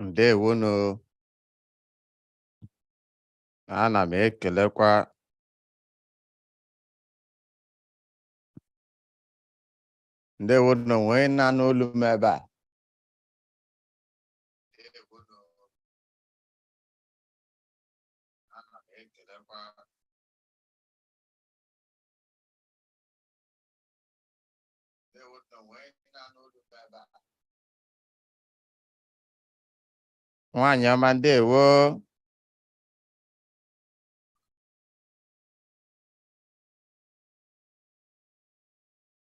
Ndewonu. Ana m ekelekwa ndewo nụ o nwe onye na-anụ olu m ebe a nwaanyị ọma ndewo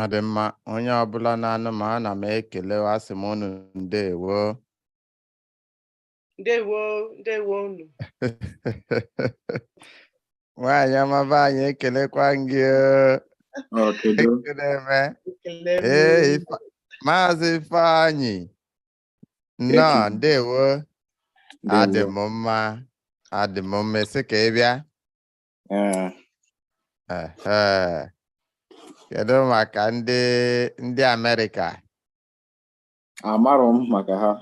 ọ dị mma onye ọbụla na-anụ m ana m ekele asị m unu ndewo ndewo ndewo unu nwaanyị ọma be anyị ekelekwa gị ekele m ee maazị ifeanyị nnọọ ndewo adị m mma adị m mma ị sị ka ị bịa kedu maka ndị ndị Amerịka Amarọ m maka ha.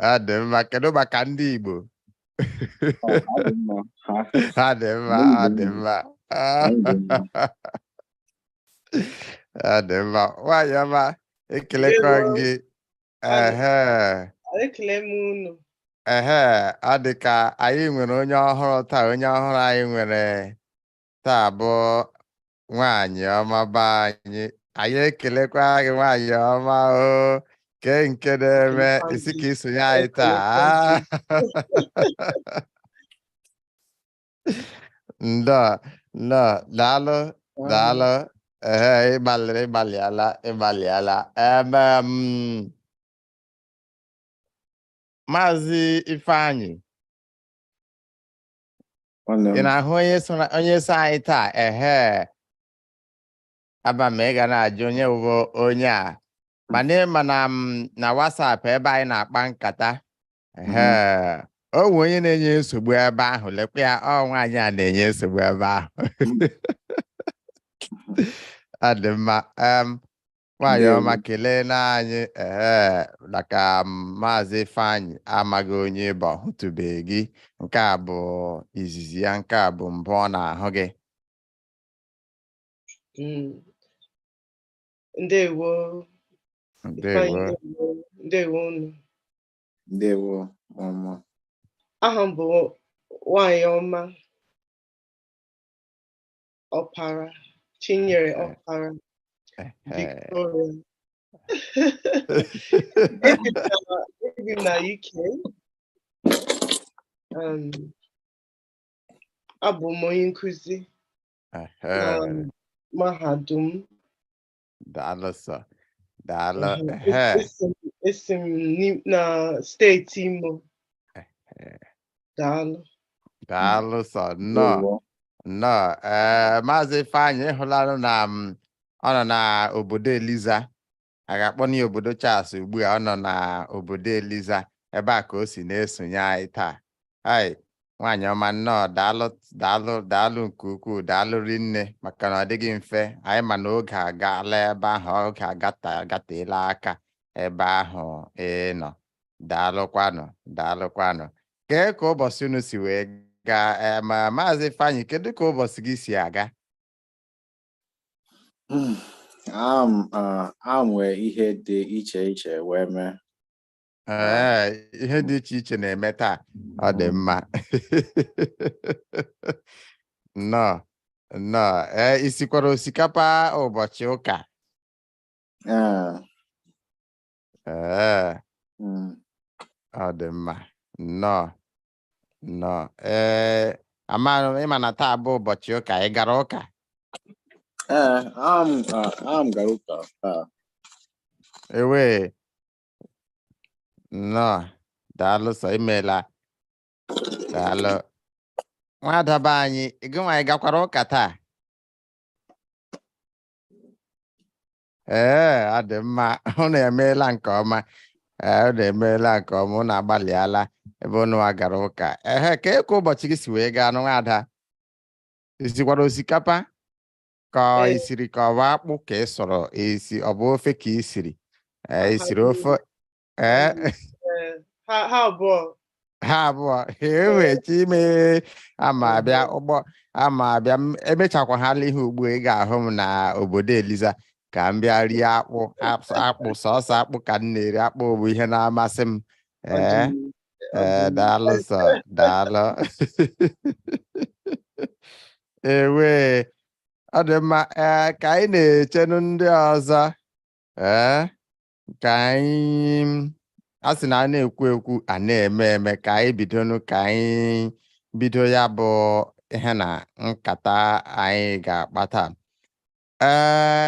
ha dị mma kedu maka ndị Igbo ha dị mma ha dị mma ha dị mma nwaanyị ọma ekelekwa gị ehe ehe ọ dị ka anyị nwere onye ọhụrụ taa onye ọhụrụ anyị nwere taa bụ nwaanyị ọma be anyị anyị ekelekwa gị nwaanyị ọma o kee nke na-eme ị sị ka i sonye anyị taa nnọọ nnọọ daalụ daalụ ehe ị gbalịrị ị gbalịala ị gbalịala em em maazị ifeanyị nwanne m ị na-ahụ onye so na- onye so anyị taa ehe ama m ị ga na-ajụ onye bụ onye a mana ị ma na na WhatsApp ebe anyị na-akpa nkata ehe o nwe onye na-enye nsogbu ebe ahụ lekwa ya ọ nwaanyị a na-enye nsogbu ebe ahụ ọ dị mma em Nwaanyị Ndewo. ọma keleenụ anyị ee maka maazị Ifeanyị amaghị onye ị bụ ọ hụtụbeghị gị nke a bụ izizi ya nke a bụ mbụ ọ na-ahụ gị Mm. Ndewo. Ifeanyị, ndewo ndewo. Ndewo unu. ndewo mụmụ Aha m bụ Nwaanyị ọma. Ọpara, Chinyere Ọpara, Victoria. Ebi m na UK. Um, abụ m onye nkụzi na mahadum Daalụ sọ. Daalụ. Mhm. Ehe. Esi m- esi m n'I- na steeti Imo. Daalụ. Daalụ sọ nnọọ. Ndewo. Nnọọ. Ee, Maazị Ifeanyị ị hụlanụ na ọ nọ na obodo Eliza. A ga-akpọ ya obodo Charles ugbu a ọ nọ na obodo Eliza. Ebe a ka o si na-esonye anyị taa. hei nwaanyị ọma nnọọ daalụ daalụ daalụ nke ukwuu daalụ rinne maka na ọ dịghị mfe anyị ma na oge agaala ebe ahụ oge agata agateela aka ebe ahụ ee nnọọ daalụkwanụ daalụkwanụ kee ka ụbọchị unu si wee gaa ee ma maazị Ifeanyị kedu ka ụbọchị gị si aga a nwee ihe dị iche iche wee mee Ee, ihe dị iche iche na-eme taa ọ dị mma nnọọ nnọọ ee i sikwara osikapa ụbọchị ụka Ee, ee mm, ọ dị mma nnọọ nnọọ ee amaghị m ị ma na taa bụ ụbọchị ụka ị gara ụka ee, am- a- am gara ụka taa. ewee nnọọ daalụ sọ imeela daalụ nwada be anyị gịnwanụ ị gakwara ụka taa ee ọ dị mma unu emeela nke ọma ee unu emeela nke ọma unu agbalịala ebe ununwa gara ụka ehe kee ka ụbọchị gị si wee gaanụ nwada i sikwara osikapa ka ọ Ee. i siri ka ọ bụ akpụ ka ị sụrụ ị sị ọ bụ ofe ka i siri Ee, ha i siri niile. ofe ee Ee, ha ha abụọ ha abụọ ewee Chi m ee aga m abịa Mhm. oo aga m abịa m emechakwa ha ihe ugbu a, ị ga-ahụ m na obodo eliza ka m bịa rie akpụ as- akpụ sọsọ akpụ ka m na-eri akpụ bụ ihe na-amasị m Ọ dị ee mma. ee eh, daalụ sọ daalụ ewe ọ dị mma ee eh, ka anyị na-echenu ndị ọzọ ee eh, ka anyị a sị na a na-ekwu ekwu a na-eme eme ka anyị bidonu ka anyị bido ya bụ ihe na nkata anyị ga-akpa taa ee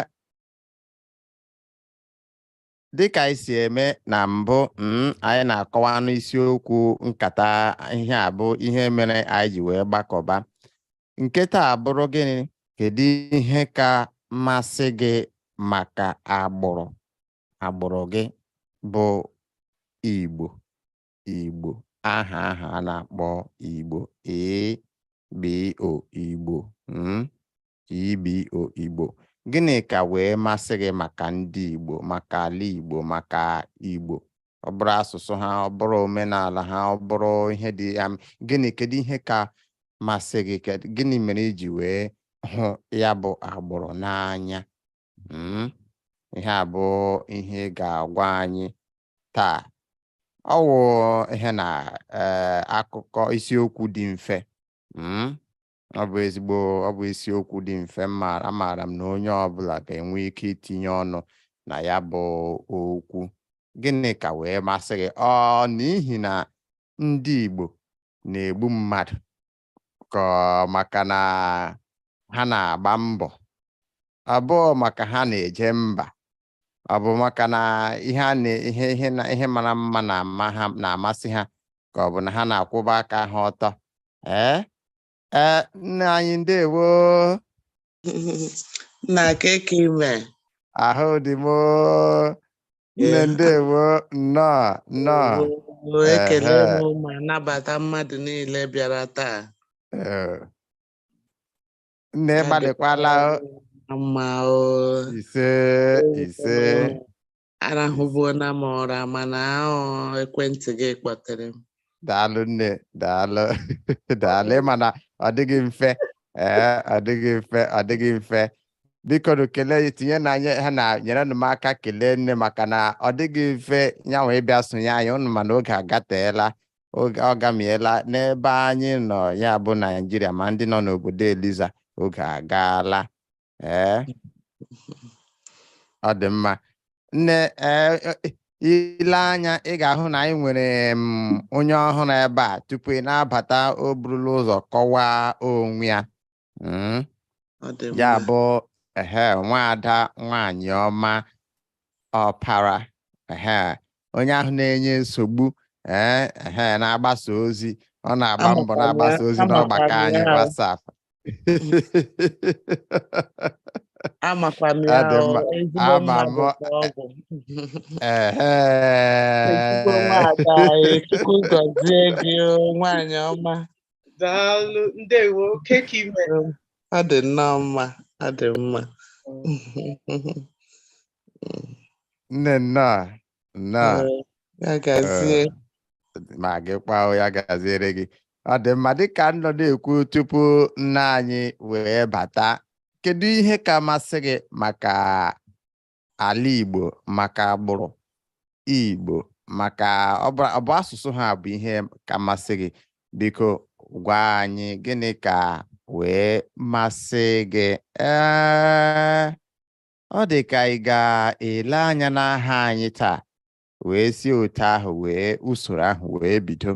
dịka anyị si eme na mbụ mm, anyị na-akọwanụ isiokwu nkata ihe a bụ ihe mere anyị ji wee gbakọba nke taa bụrụ gịnị kedu ihe ka masị gị maka agbụrụ agbụrụ gị bụ igbo igbo aha aha a na-akpọ igbo ee igbo mm. IBO Igbo gịnị ka wee masị gị maka ndị Igbo maka ala Igbo maka Igbo ọ bụrụ asụsụ ha ọ bụrụ omenala ha ọ bụrụ ihe dị ya gịnị kedu ihe ka masị gị gịnị mere i ji wee hụ ya bụ agbụrụ n'anya hmm? ihe a bụ ihe ị ga-agwa anyị taa ọ wụ ihe na eh, akụkọ isiokwu dị mfe hmm? ọ bụ ezigbo ọ bụ isiokwu dị mfe mmaara amaara m na onye ọbụla ga-enwe ike itinye ọnụ na ya bụ okwu gịnị ka wee masị gị ọ n'ihi na ndị Igbo na-egbu mmadụ ka ọ maka na ha na-agba mbọ ọ bụ maka ha na-eje mba ọ bụ maka na ihe a na ihe ihe na ihe mara mma na-ama ha na-amasị ha ka ọ bụ na ha na-akwụba aka ha ọtọ ee ee nna anyị ndewo na kee ka ị me ahụ dị m oo. nne Yeah. ndewo nnọọ nnọọ Oo, ekele Ehe. m ma nabata mmadụ niile bịara taa Ee, nne ị gbalịkwala o. dịkwara mma o ise ise arahụbuola m ụra mana ọ bụ ekwentị gị kpọtere m daalụ nne daalụ daalụ ị ma na ọ dịghị mfe ee ọ dịghị mfe ọ dịghị mfe bikonụ kelee ya tinye na anyị ha na nyerenụ m aka kelee nne maka na ọ dịghị mfe ya nwa ịbịa sonye anyị ụnụ ma na oge agateela oge agamiela n'ebe anyị nọ ya bụ naijiria ma ndị nọ n'obodo eliza oge agaala ee ọ dị mma nne ee i lee anya ị ga-ahụ na anyị nwere onye ọhụrụ ebe a tupu ị na-abata o burula ụzọ kọwaa onwe ya Mm. Ọ dị ya mma. bụ ehe nwaada nwanyị ọma Ọpara ehe onye ahụ na-enye nsogbu ee ehe na-agbasa ozi ọ na-agba mbọ Amụtara ya, na-agbasa ozi amụtara n'ọgbakọ anyị ya. WhatsApp Amakwa m Ọ ya dị o, mma. ezigbo Ama mmadụ m- ka ọ bụ. ehe Ezigbo nwaada anyị, Chukwu gọzie gị o, nwaanyị ọma. Daalụ, ndewo, kee ka ị mere? Ha dị nnọọ mma, ha dị mma. Nne nnọọ, nnọọ. Ee, Ya gazie. ma gị kwa ya gaziere gị ọ dị mma dịka m nọ na-ekwu tupu nna anyị wee bata kedu ihe ka masị gị maka ala Igbo maka agbụrụ Igbo maka ọ bụ ọ bụ asụsụ ha bụ ihe ka masị gị biko gwa anyị gịnị ka wee masị gị ee ọ dị ka ị ga-ele anya n'aha anyị taa wee si otu ahụ wee usoro ahụ wee bido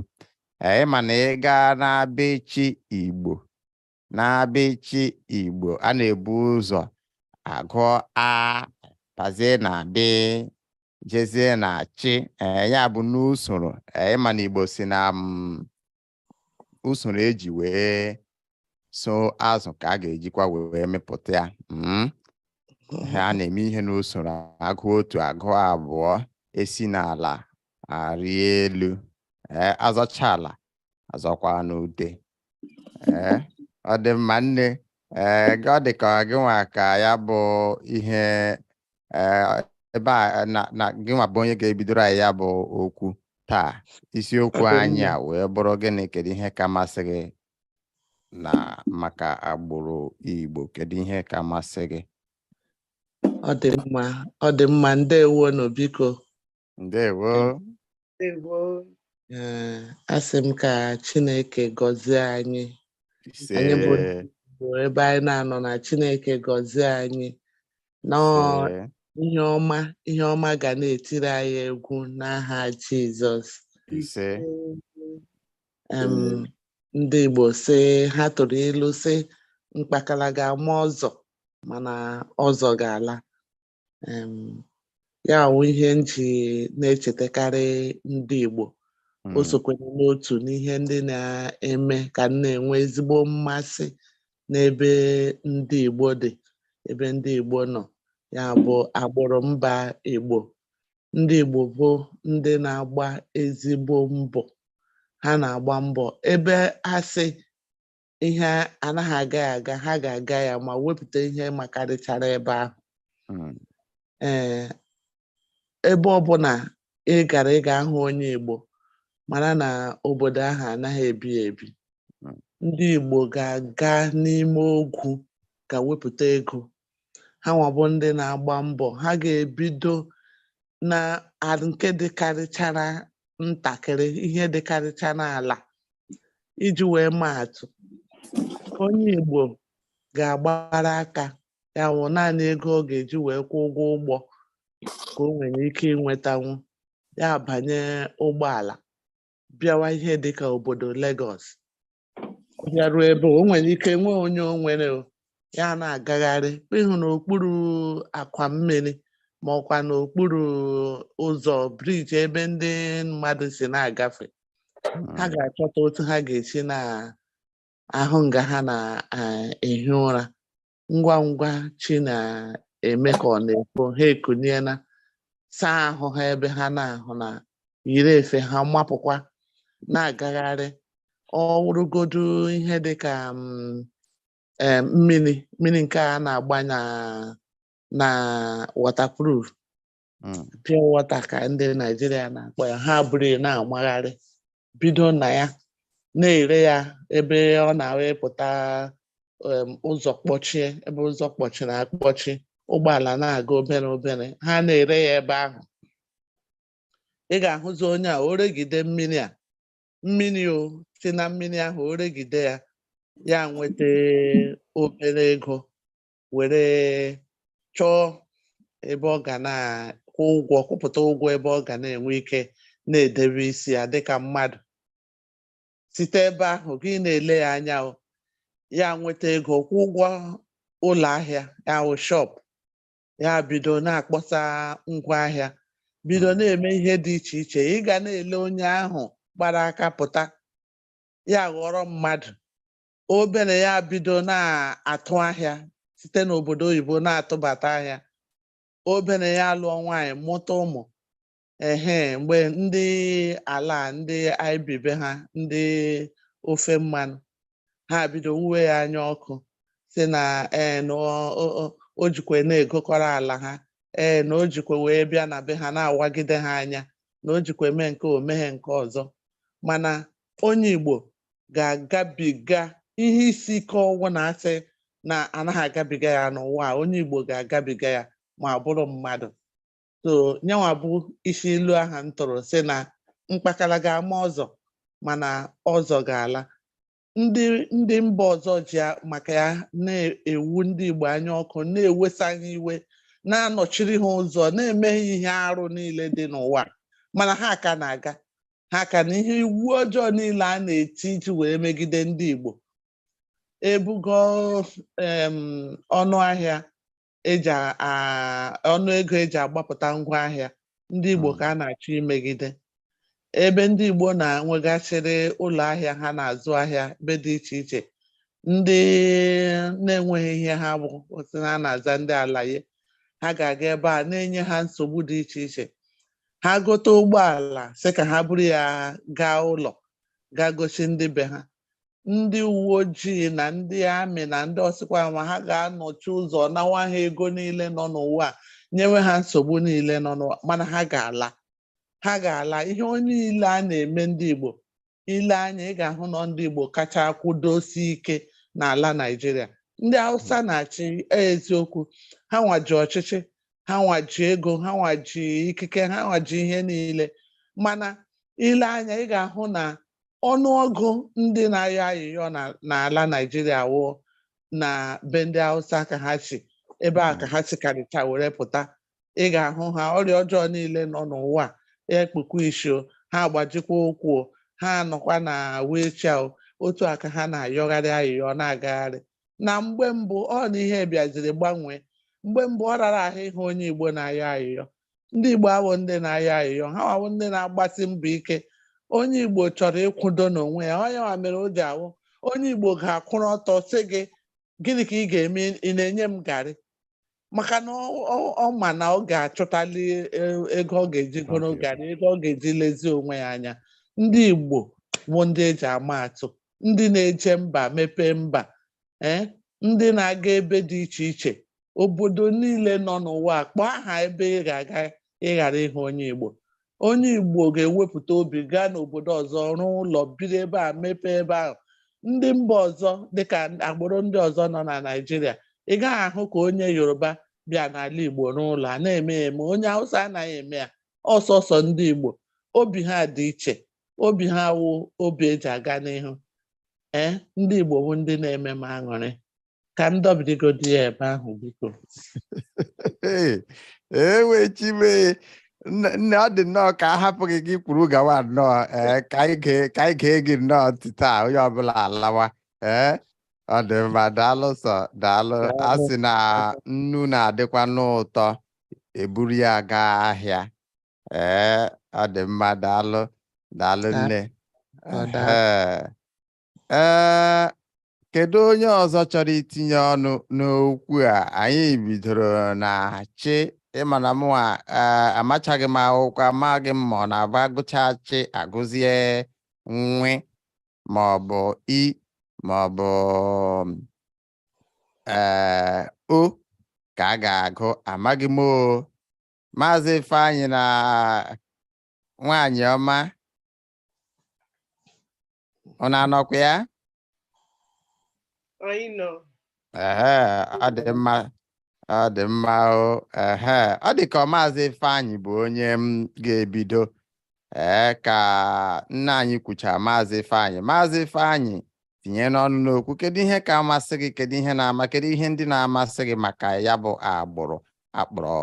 ee mana ị gaa n'abịchị Igbo n'abịchị Igbo a na-ebu ụzọ agụ a gazie na bị jezie na chị eh, ya bụ n'usoro eh, ị ma na Igbo sị na mm, usoro eji wee so azụ ka a ga-ejikwa wee mepụta ya mm. a na-eme ihe n'usoro a gụọ otu a gụọ abụọ esi n'ala arị elu ee eh, azọcha ala azọkwa n'ute Ee, ọ dị mma nne ee gị- ọ dị ka gị nwa ka ya bụ ihe ee, ebe a na na gị nwa bụ onye ga-ebidoro anyị ya bụ okwu taa isiokwu anyị a wee bụrụ gịnị kedu ihe ka masị gị na maka agbụrụ Igbo kedu ihe ka masị gị ọ dị mma ọ dị mma ndewo nụ biko ndewo ndewo eh, asị m ka Chineke gọzie anyị anyị bụ ebe anyị na-anọ na Chineke gọzie anyị n'ihe ọma ihe ọma ga na-etiri anyị egwu n'aha Jizọs ndị Igbo sị ha tụrụ ilu sị mkpakala ga-ama ọzọ mana ọzọ ga-ala ya wụ ihe m ji na-echetakarị ndị Igbo o hmm. sokwara n'otu n'ihe ndị na-eme ka m na-enwe ezigbo mmasị n'ebe ndị Igbo dị ebe ndị Igbo nọ ya bụ agbụrụ mba Igbo ndị Igbo bụ ndị na-agba ezigbo mbọ ha na-agba mbọ ebe asị ihe anaghị aga ya aga ha ga-aga ya ma wepụta ihe makarịchara ebe ahụ hmm. ee ebe ọbụla ị gara ị ga-ahụ onye Igbo mara na obodo ahụ anaghị ebi ebi hmm. ndị Igbo ga-aga n'ime ogwu ga wepụta ego ha nwa bụ ndị na-agba mbọ ha ga-ebido na nke dịkarịchara ntakịrị ihe dịkarịchara ala iji wee maa atụ onye Igbo ga-agbara aka ya wụ naanị ego ọ ga-eji wee kwụọ ụgwọ ụgbọ ka o nwere ike inwetanwu ya abanye ụgbọala bịawa ihe dịka obodo Lagos ọ bịaruo ebe o nwere ike nwee onye o nwere o, ya na-agagharị ịhụ n'okpuru akwa mmiri ma ọkwa n'okpuru ụzọ bridge ebe ndị mmadụ si na-agafe ha ga-achọta otu ha ga-esi na-ahụ nga ha na-ehi ụra ngwa ngwa chi na-eme ka ọ na-efo ha ekuniela saa ahụ ha ebe ha na-ahụ na yiri efe ha mapụkwa na-agagharị ọ wụrụgodu ihe dị ka mm, em, mmiri mmiri nke a na-agbanye na waterproof hmm. pure water ka ndị Naijiria na-akpọ ya ha buru na-amagharị bido na ya na-ere ya ebe ọ na-awa ịpụta ụzọ kpọchie ebe ụzọ kpọchiri akpọchi ụgbọala na-aga obere obere ha na-ere ya ebe ahụ ị ga-ahụzi onye a oregide mmiri a mmiri o si na mmiri ahụ oregide ya ya nweta obere ego were chọọ ebe ọ ga na-akwụ ụgwọ kwụpụta ụgwọ ebe ọ ga na-enwe ike na-edebe isi ya dịka mmadụ site ebe ahụ gị na-ele ya anya ya nweta ego kwụọ ụgwọ ụlọ ahịa ya wụ shop ya bido na-akpọsa ngwa ahịa bido hmm. na-eme ihe dị iche iche ị ga na-ele onye ahụ gbara aka pụta ya aghọrọ mmadụ obere ya bido na-atụ ahịa site n'obodo oyibo na-atụbata ahịa obere ya alụọ nwaanyị mụta ụmụ ehe mgbe ndị ala ndị i bi be ha ndị ofe mmanụ ha bido wuwe ya anya ọkụ sị na ee na ọ- ọ- ọ- o jikwe na-egokọrọ ala ha ee na o jikwe wee bịa na be ha na-awagide ha anya na o jikwe mee nke o meghe nke ọzọ mana onye Igbo ga-agabiga ihe isi ike ọwụla a sị na anaghị agabiga ya n'ụwa a, onye Igbo ga-agabiga ya ma ọ bụrụ mmadụ so nyanwa bụ isi ilu ahụ m tụrụ sị na mkpakara ga-ama ọzọ mana ọzọ ga-ala ndị ndị mba ọzọ ji a- maka ya na-ewu ndị Igbo anya ọkụ na-ewesa ha iwe na-anọchiri ha ụzọ na-eme ha ihe arụ niile dị n'ụwa mana ha ka na-aga ha ka na ihe iwu ọjọọ niile a na-eti iji wee megide ndị Igbo ebugo em, ọnụ ahịa eji a- a- ọnụ ego eji agbapụta ngwa ahịa ndị Igbo Mm. ka a na-achọ imegide ebe ndị Igbo na-enwegasịrị ụlọ ahịa ha na-azụ ahịa ebe dị iche iche ndị na-enweghị ihe ha bụ sị na a na-aza ndị alaye ha ga-aga ebe a na-enye ha nsogbu dị iche iche ha gote ụgbọala sị ka ha buru ya gaa ụlọ gaa gosi ndị be ha ndị uwe ojii na ndị amị na ndị ọsịkwa nwa ha ga-anọchi ụzọ nawa ha ego niile nọ n'ụwa a, nyewe ha nsogbu niile nọ n'ụwa mana ha ga-ala ha ga-ala ihe onye niile a na-eme ndị Igbo ile anya ị ga-ahụ na ọ ndị Igbo kacha akwụdosi ike n'ala Naịjirịa ndị Hausa na-achị e, eziokwu ha nwa ji ọchịchị ha nwa ji ego ha nwa ji ikike ha nwa ji ihe niile mana ile anya ị ga-ahụ na ọnụọgụ ndị na-ayọ ayịyọ n'ala Naịjirịa wụ na be ndị Hausa ka ha si ebe a ka ha si karịcha were pụta ị ga-ahụ ha ọrịa ọjọọ niile nọ n'ụwa ekpukwa isi o ha agbajikwa ụkwụ ha nọkwa na wheelchair otu a ka ha na-ayọgharị ayịyọ na-agagharị na mgbe mbụ ọ na ihe bịaziri gbanwee mgbe mbụ ọ rara ahụ ịhụ onye Igbo na-ayọ ayịyọ ndị Igbo abụghị ndị na-ayọ ayịyọ ha nwa wụ ndị na-agbasi mbọ ike onye Igbo chọrọ ịkwụdo n'onwe ya ọ nyanwa mere o ji awụ onye Igbo ga-akwụrụ ọtọ sị gị gịnị ka ị ga-eme ị na-enye m garị maka na ọ ma na ọ ga-achọtali e, ego ọ ga-eji goro oge na ego ọ ga-eji lezie onwe ya anya ndị Igbo bụ ndị eji ama atụ ndị na-eje mba mepee mba ee eh, ndị na-aga ebe dị iche iche obodo niile nọ n'ụwa kpọọ aha ebe ị ga-aga ịghara ịhụ onye Igbo onye Igbo ga-ewepụta obi gaa n'obodo ọzọ rụọ ụlọ biri ebe ahụ mepee ebe ahụ ndị mba ọzọ dịka agbụrụ ndị ọzọ nọ na Naịjirịa ị gaghị ahụ ka onye Yoruba bịa n'ala Igbo rụọ ụlọ a na-eme ya eme onye Hausa anaghị eme ya ọsọsọ ndị Igbo obi ha dị iche obi ha wụ obi eji aga n'ihu ee ndị Igbo bụ ndị na-eme m aṅụrị ka m dọbidigodi ya ebe ahụ biko ewo chi m e nne ọ dị nnọọ ka a hapụ gị gị kwuru gawa nnọọ ee ka anyị gee gị nnọọ ntị taa onye ọbụla alawa ee ọ dị mma daalụ sọ daalụ a sị na nnu na-adịkwa n'ụtọ e buru ya gaa ahịa ee ọ dị mma daalụ daalụ nne ee kedu onye ọzọ chọrọ itinye ọnụ n'okwu a anyị bidoro na chị ị ma na mụwa amachaghị m akwụkwọ amaghị m ma ọ na-abụ a gụcha chị a gụzie nwe ma ọ bụ i ma ọ bụ ee o ka a ga-agụ amaghị m o maazị Ifeanyị na nwaanyị ọma unu anọkwa ya anyị nọ ehe ọ dị mma ọ dị mma o ehe ọ dị ka ọ maazị Ifeanyị bụ onye m ga-ebido ee ka nna anyị kwucha maazị Ifeanyị maazị Ifeanyị tinyenụ ọnụ n'okwu kedu ihe ka amasị gị kedu ihe na-ama kedu ihe ndị na-amasị gị maka ya bụ agbụrụ a kpọrọ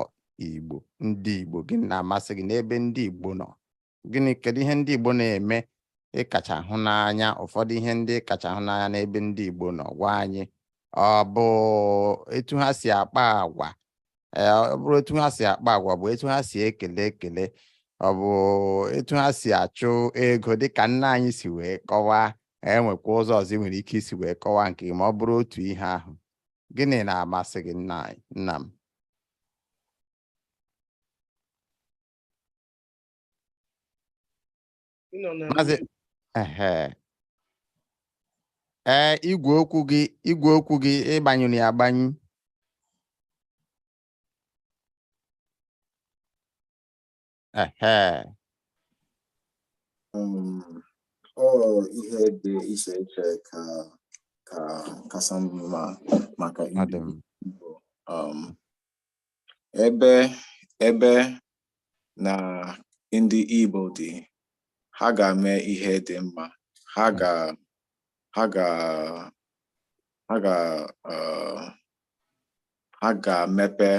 Igbo ndị Igbo gịnị na-amasị gị n'ebe ndị Igbo nọ gịnị kedu ihe ndị Igbo na-eme ị kacha hụ n'anya ụfọdụ ihe ndị ị kacha hụ n'anya n'ebe ndị Igbo nọ gwa anyị ọ bụ etu ha si akpa agwa e, ọ bụrụ etu ha si akpa agwa bụ etu ha si ekele ekele ọ bụ etu ha si achụ ego dịka nna anyị si wee kọwaa e nwekwa ụzọ ọzọ i nwere ike isi wee kọwaa nke ma ọ bụrụ otu ihe ahụ gịnị na-amasị gị nna m ee igwe okwu gị igwe okwu gị ị gbanyụrụ ya agbanyụ Ehe. Um, ọ ihe dị iche iche ka ka kacha mma maka Ọ dị m. Igbo. Um, Ebe ebe na ndị Igbo dị, ha ga-eme ihe dị mma. Ha ga ha ga ha ga uh, ha ga-emepe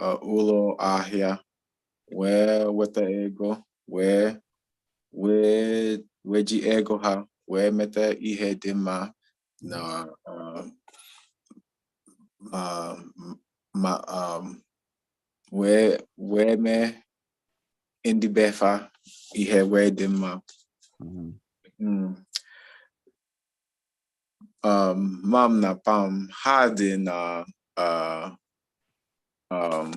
uh, ụlọ ahịa wee weta ego wee wee wee ji ego ha wee meta ihe dị mma na um, ma um, wee wee mee ndị be fa ihe wee dị mma mm-hmm. mm. um, mam na pam ha dị na uh, um,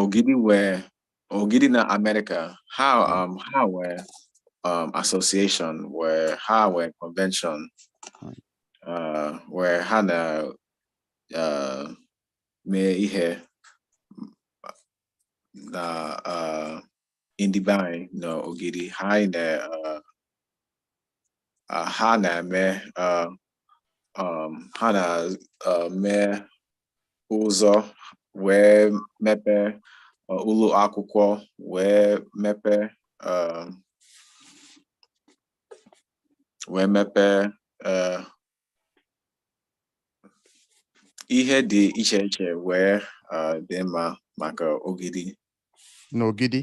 ogidi wee Ogidi na America, how mm. um how were um association where how were convention uh where Hannah uh may ihe na uh in the bank no Ogidi high na uh, uh Hannah me uh um, ha na-eme uh, ụzọ wee mepee uh, ụlọ akwụkwọ wee mepee um, wee mepee uh, ihe dị iche iche wee dị mma maka ogidi n'ogidi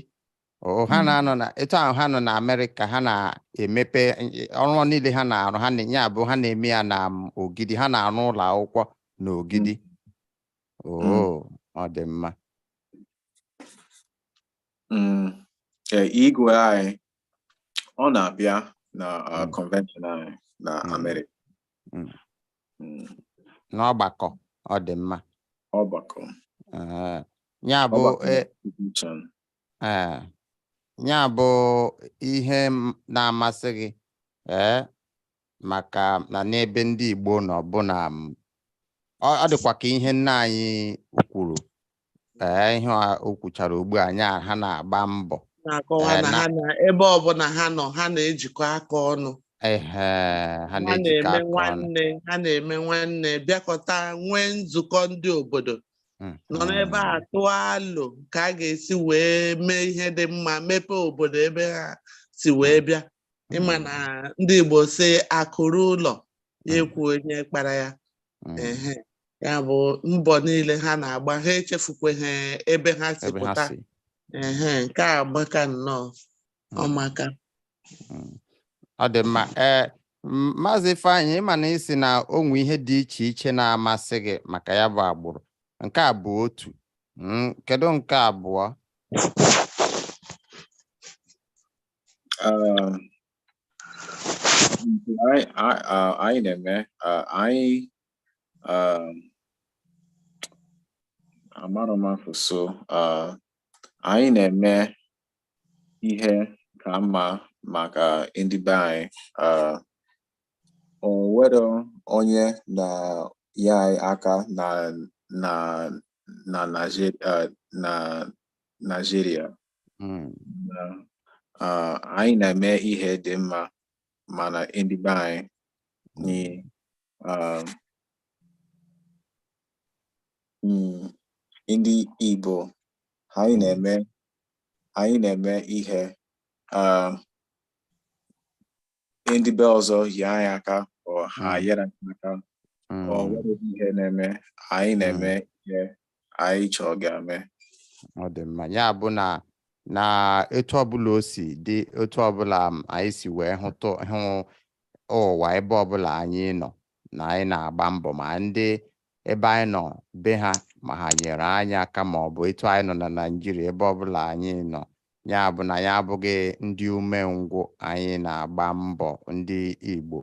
O- ha Mm. na-anọ na etu ahụ ha nọ na amerịka ha na-emepe eh, ọrụ niile ha na-arụ nya bụ ha na-eme ya na mm, ogidi ha na-arụ ụlọ akwụkwọ na ogidi oo ọ dị mma Mm, eh, igwe anyị ọ na-abịa na uh, Mm. convention anyị na Mm. Amerịka Mm. Mm. n'ọgbakọ ọ dị mma ọgbakọ Ee, ya bụ ọgbakọ e- institution. ee, ya bụ ihe m- na-amasị gị ee maka na n'ebe ndị Igbo nọ bụ na m, ọ ọ dịkwa ka ihe nna anyị kwuru ee ihe a o kwuchara ugbu a nya ha na-agba mbọ na-akọwa Eh, na na- ha na ebe ọbụla ha nọ ha na-ejikọ aka ọnụ ehe ha ha na-ejikọ na-eme aka ọnụ nwanne ha na-eme nwanne bịakọta nwee nzukọ ndị obodo nọ n'ebe a Mhm. tụọ alo ka a ga-esi wee mee ihe dị mma mepee obodo ebe ha si wee bịa ị ma na ndị Igbo sị akụ ruo ụlọ ya ekwu onye kpara ya Mhm. ehe ya bụ mbọ niile ha na-agba ha echefukweghị ebe ha si ebe ha pụta si ehe nke a amaka nnọọ Mm. ọ maka Mm. ọ dị mma ee m- maazị Ifeanyị ị ma na ị sị na o nwe ihe dị iche iche na-amasị gị maka ya bụ agbụrụ nke a bụ otu Mm, kedu nke abụọ Uh, I, I, uh, anyị na-eme uh, anyị um, amarọ m asụsụ uh, anyị na-eme ihe ka mma maka ndị be anyị uh, o nwerọ onye na-enye anyị aka na na na Naịjir- uh, na Naịjirịa Mm. na uh, anyị na-eme ihe dị mma mana ndị be anyị ni um, mm, ndị Igbo anyị na-eme anyị na-eme ihe um, ndị be ọzọ nye anyị aka ọ ha Mm. nyere anyị aka ọ Mm. nwere ihe na-eme anyị na-eme ihe anyị chọọ ga-eme ọ dị mma ya bụ na na etu ọbụla o si dị etu ọbụla anyị si wee hụtụ hụ ụwa ebe ọbụla anyị nọ na anyị na-agba mbọ ma ndị ebe anyị nọ be ha ma ha nyere anyị aka ma ọ bụ etu anyị nọ na Naịjirịa ebe ọbụla anyị nọ ya bụ na anyị abụghị ndị umengwụ anyị na-agba mbọ ndị Igbo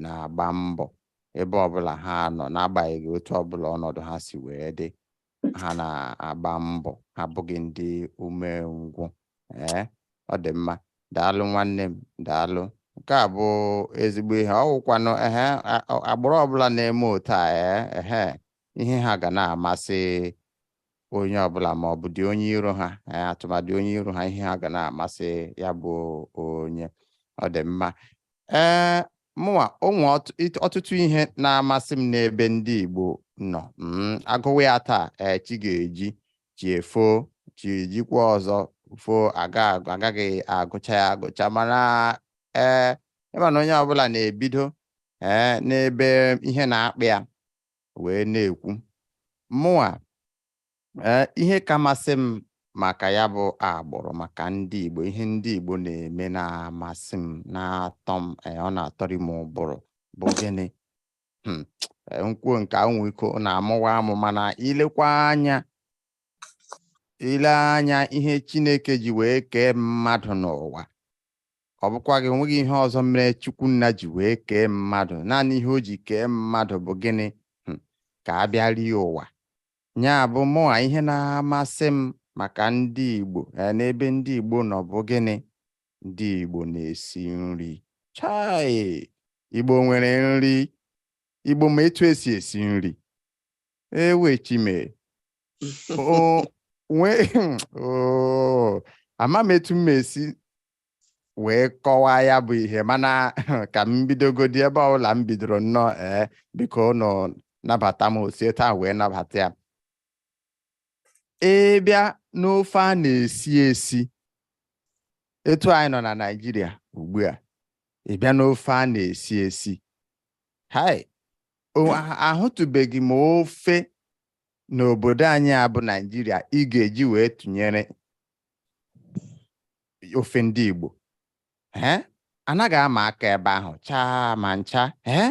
na-agba mbọ ebe ọbụla ha nọ n'agbanyeghị otu ọbụla ọnọdụ ha si wee dị ha na-agba mbọ ha abụghị ndị umengwụ ee ọ dị mma daalụ nwanne m daalụ nke a bụ ezigbo ihe ọ wụkwanụ ehe agbụrụ ọbụla na-eme otu a ee ehe ihe ha ga na-amasị onye ọbụla ma ọ bụdị onye iro ha eh, atụmadị onye iro ha ihe ha ga na-amasị ya bụ onye ọ dị mma ee eh, mụnwa o nwe ọtụtụ ihe na-amasị m n'ebe ndị Igbo nọ mm, a gụwa ya taa eh, chi ga-eji chi efo chi ejikwa ọzọ fo a gaghị agụcha ya agụcha mana ee ị ma na onye ọbụla na-ebido ee n'ebe ihe na-akpị ya wee na-ekwu mụnwa ee ihe ka masị m maka ya bụ agbụrụ maka ndị Igbo ihe ndị Igbo na-eme na-amasị m na-atọ m ee, ọ na-atọrị m ụbụrụ bụ gịnị Hmm, ee, m kwuo nke ahụ nwee ike ọ na-amụwa amụ mana i lekwa anya i lee anya ihe Chineke ji wee kee mmadụ n'ụwa Ọ bụkwa gị o nweghị ihe ọzọ mere Chukwunna ji wee kee mmadụ. Naanị ihe o ji kee mmadụ bụ gịnị? Hmm, ka a bịa rie ụwa. Nya bụ mụnwa ihe na-amasị m maka ndị Igbo eh, n'ebe ndị Igbo nọ bụ gịnị? Ndị Igbo na-esi nri. Chai! Igbo nwere nri. Igbo ma etu e si esi nri. Ewo Chi m e. O nwee oh, ama m etu m esi wee kọwaa ya bụ ihe mana ka m bidogodi ebe ọbụla m bidoro nnọọ ee biko ụnụ nabata m o si etu ahụ wee nabata ya ị bịa n'ofe a na-esi esi etu anyị nọ na Naịjirịa ugbu a ị bịa n'ofe a na-esi esi hai ahụtụbeghị m ofe n'obodo anyị a bụ Naịjirịa ị ga-eji wee tụnyere ofe ndị Igbo ee anaghị ama aka ebe ahụ chaa ma ncha ee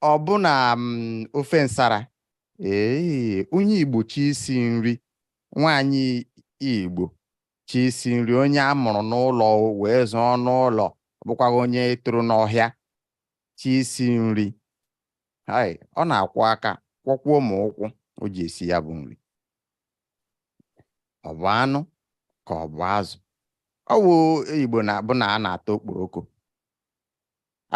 ọ bụ na mm, ofe nsara ee onye Igbo chọọ isi nri nwaanyị Igbo chọọ isi nri onye a mụrụ n'ụlọ wee zụọ n'ụlọ ọ bụkwaghị onye toro n'ọhịa chọọ isi nri hai ọ na-akwọ aka kwọkwuo ma ụkwụ o ji esi ya bụ nri ọ bụ anụ ka ọ bụ azụ ọ bụ igbo na abụ na a na-ata okporoko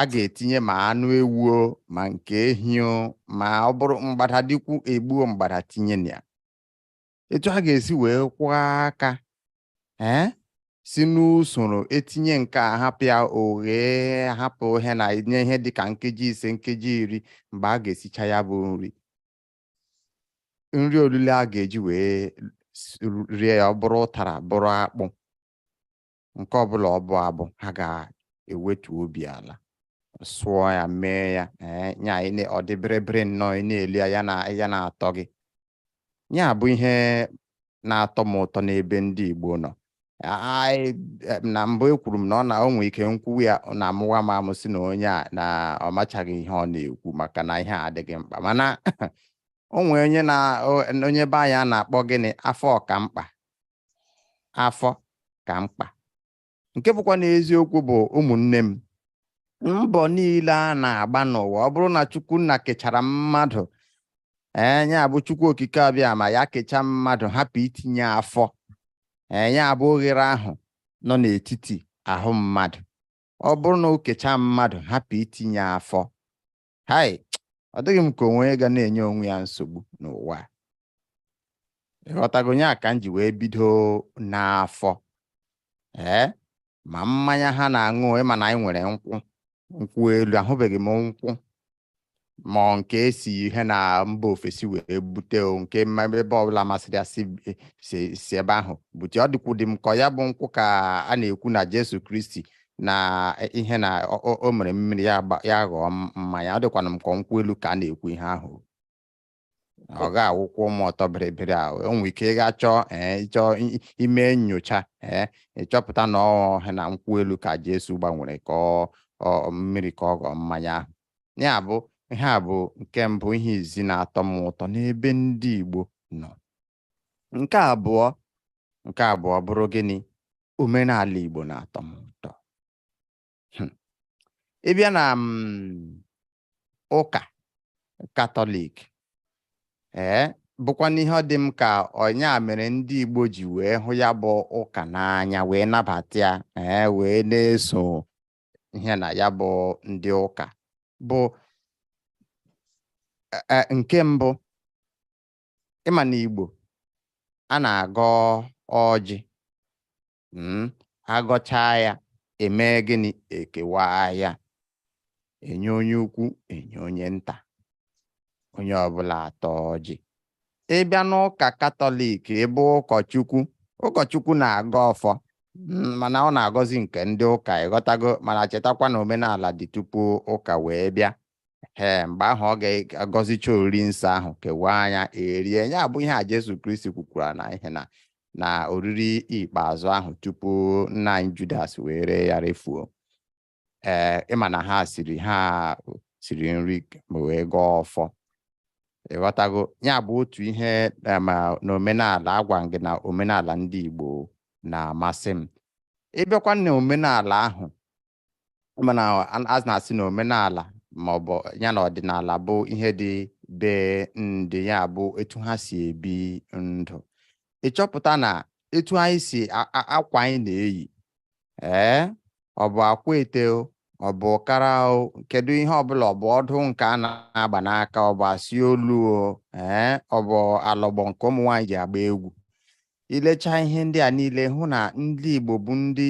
a ga-etinye ma anụ ewu o ma nke ehi o ma ọ bụrụ mgbada dịkwu egbuo mgbada tinye na ya etu a ga-esi wee kwọọ aka ee si n'usoro etinye nke a hapụ ya oghe hapụ ihe na nye ihe dịka nkeji ise nkeji iri mgbe a ga-esicha ya bụ nri nri olilo a ga-eji wee rie ya ọ bụrụ ụtara bụrụ akpụ nke ọbụla ọ bụ abụ ha ga-ewetu obi ala sụọ ya mee ya eh, nya ọ dị bịrịbịrị nnọọ ị na-eli ya ya na-atọ gị ya bụ ihe na-atọ m ụtọ n'ebe ndị Igbo nọ anyị eh, na mbụ ekwuru m na ọ na o nwee ike m kwuwa ya na amụwa m amụ sị na onye a na ọ machaghị ihe ọ na-ekwu maka na ihe a adịghị mkpa mana o nwee onye na o- onye be anyị a na-akpọ gịnị afọ ka mkpa afọ ka mkpa nke bụkwanụ eziokwu bụ ụmụnne m mbọ niile a na-agba n'ụwa ọ bụrụ na chukwu nna kechara mmadụ ee nya bụ chukwu okike abịama ya kechaa mmadụ hapụ itinye afọ ee nya bụ oghere ahụ nọ n'etiti ahụ mmadụ ọ bụrụ na o kechaa mmadụ hapụ itinye afọ hai ọ dịghị m ka o nwee onye ga na-enye onwe ya nsogbu n'ụwa ị ghọtago ya ka m ji wee bido n'afọ ee ma mmanya ha na-aṅụ ị ma na anyị nwere nkwụ nkwụ elu ahụbeghị m nkwụ ma nke e si ihe na mba ofesi wee bute o nke ebe ọbụla masịrị ya si ebe ahụ bute ọ dịkwudị m ka ya bụ nkwụ ka a na-ekwu na Jesu Kristi na ihe na o mere mmiri ya ghọọ mmanya ọ dịkwanụ m ka nkwụ elu ka a na-ekwu ihe ahụ ọ ga-awụkwa ụmụ ọtọ bịrịbịrị ahụ o nwere ike ị gaa chọọ ee ị chọọ ime nyocha ee ị chọpụta na ọ ihe na nkwụ elu ka Jesu gbanwere ka ọ mmiri ka ọ ghọọ mmanya ahụ ya bụ ihe a bụ nke mbụ ihe izizi na-atọ m ụtọ n'ebe ndị Igbo nọ Nke abụọ nke abụọ bụrụ gịnị? Omenala Igbo na-atọ m ụtọ. Hmm. Ị bịa na mm, ụka Katọlik ee bụkwanụ ihe ọ dị m ka ọ nya mere ndị Igbo ji wee hụ ya bụ ụka n'anya wee nabata ya ee wee na-eso ihe na ya bụ ndị ụka bụ e, e, nke mbụ ị ma na Igbo a na-agọ ọjị mm, agọchaa ya eme gịnị ekewa ya enye onye ukwu enye onye nta onye ọbụla ataa ọjị ị bịa n'ụka katọlik ebe ụkọchukwu ụkọchukwu na-agọ ọfọ mm, mana ọ na-agọzi nke ndị ụka ị ghọtago mana chetakwa na omenala dị tupu ụka wee bịa ee mgbe ahụ ọ ga-agọzicha oriri nsọ ahụ kewaa anyị erie ya bụ ihe a Jesu Kristi kwukwara na ihe na na oriri ikpeazụ ahụ tupu nna anyị Judas wee ree ya refuo ee ị ma na ha siri ha siri nri ma wee gọọ ọfọ ị ghọtago ya bụ otu ihe ma n'omenala agwa gị na omenala ndị Igbo na-amasị m ị bịakwa na omenala ahụ mana a na-asị na omenala ma ọ bụ ya na ọdịnala bụ ihe dị be ndị ya bụ etu ha si ebi ndụ ị chọpụta na etu anyị si akwa anyị na-eyi ee ọ bụ akwete ọ bụ ụkara kedu ihe ọbụla ọ bụ ọdụ nke a na-agba n'aka ọ bụ asị olu ee ọ bụ alọgbọ nke ụmụ nwaanyị ji agba egwu i lecha ihe ndị a niile hụ na ndị Igbo bụ ndị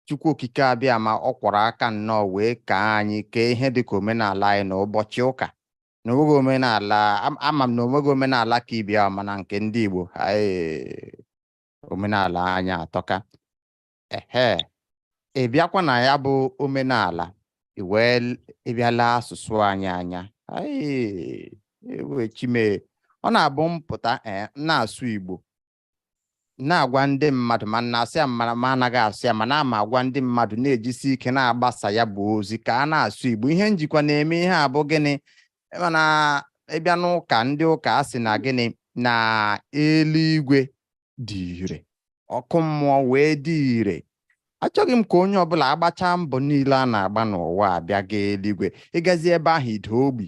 Chukwu okike Abịama ọ kwọrọ aka nnọọ wee kee anyị kee ihe dịka omenala anyị na ụbọchị ụka na onweghị omenala ama m na onweghị omenala ka ibe ya mana nke ndị Igbo omenala anyị atọka ehe ị bịakwa na ya bụ omenala i wee bịa lee asụsụ anyị anya chi m e ọ na-abụ m pụta eh, na-asụ Igbo na-agwa ndị mmadụ ma na-asụ ya ma ma anaghị asụ ya ma na-ama agwa ndị mmadụ na-ejisi ike na-agbasa ya bụ ozi ka a na-asụ Igbo ihe m jikwa na-eme ihe a bụ gịnị mana ị bịa n'ụka ndị ụka a sị na gịnị na eluigwe dị ire ọkụ mmụọ wee dị ire achọghị m ka onye ọbụla agbachaa mbọ niile a na-agba n'ụwa abịa gaa eluigwe ị gazie ebe ahụ ị daa ogbi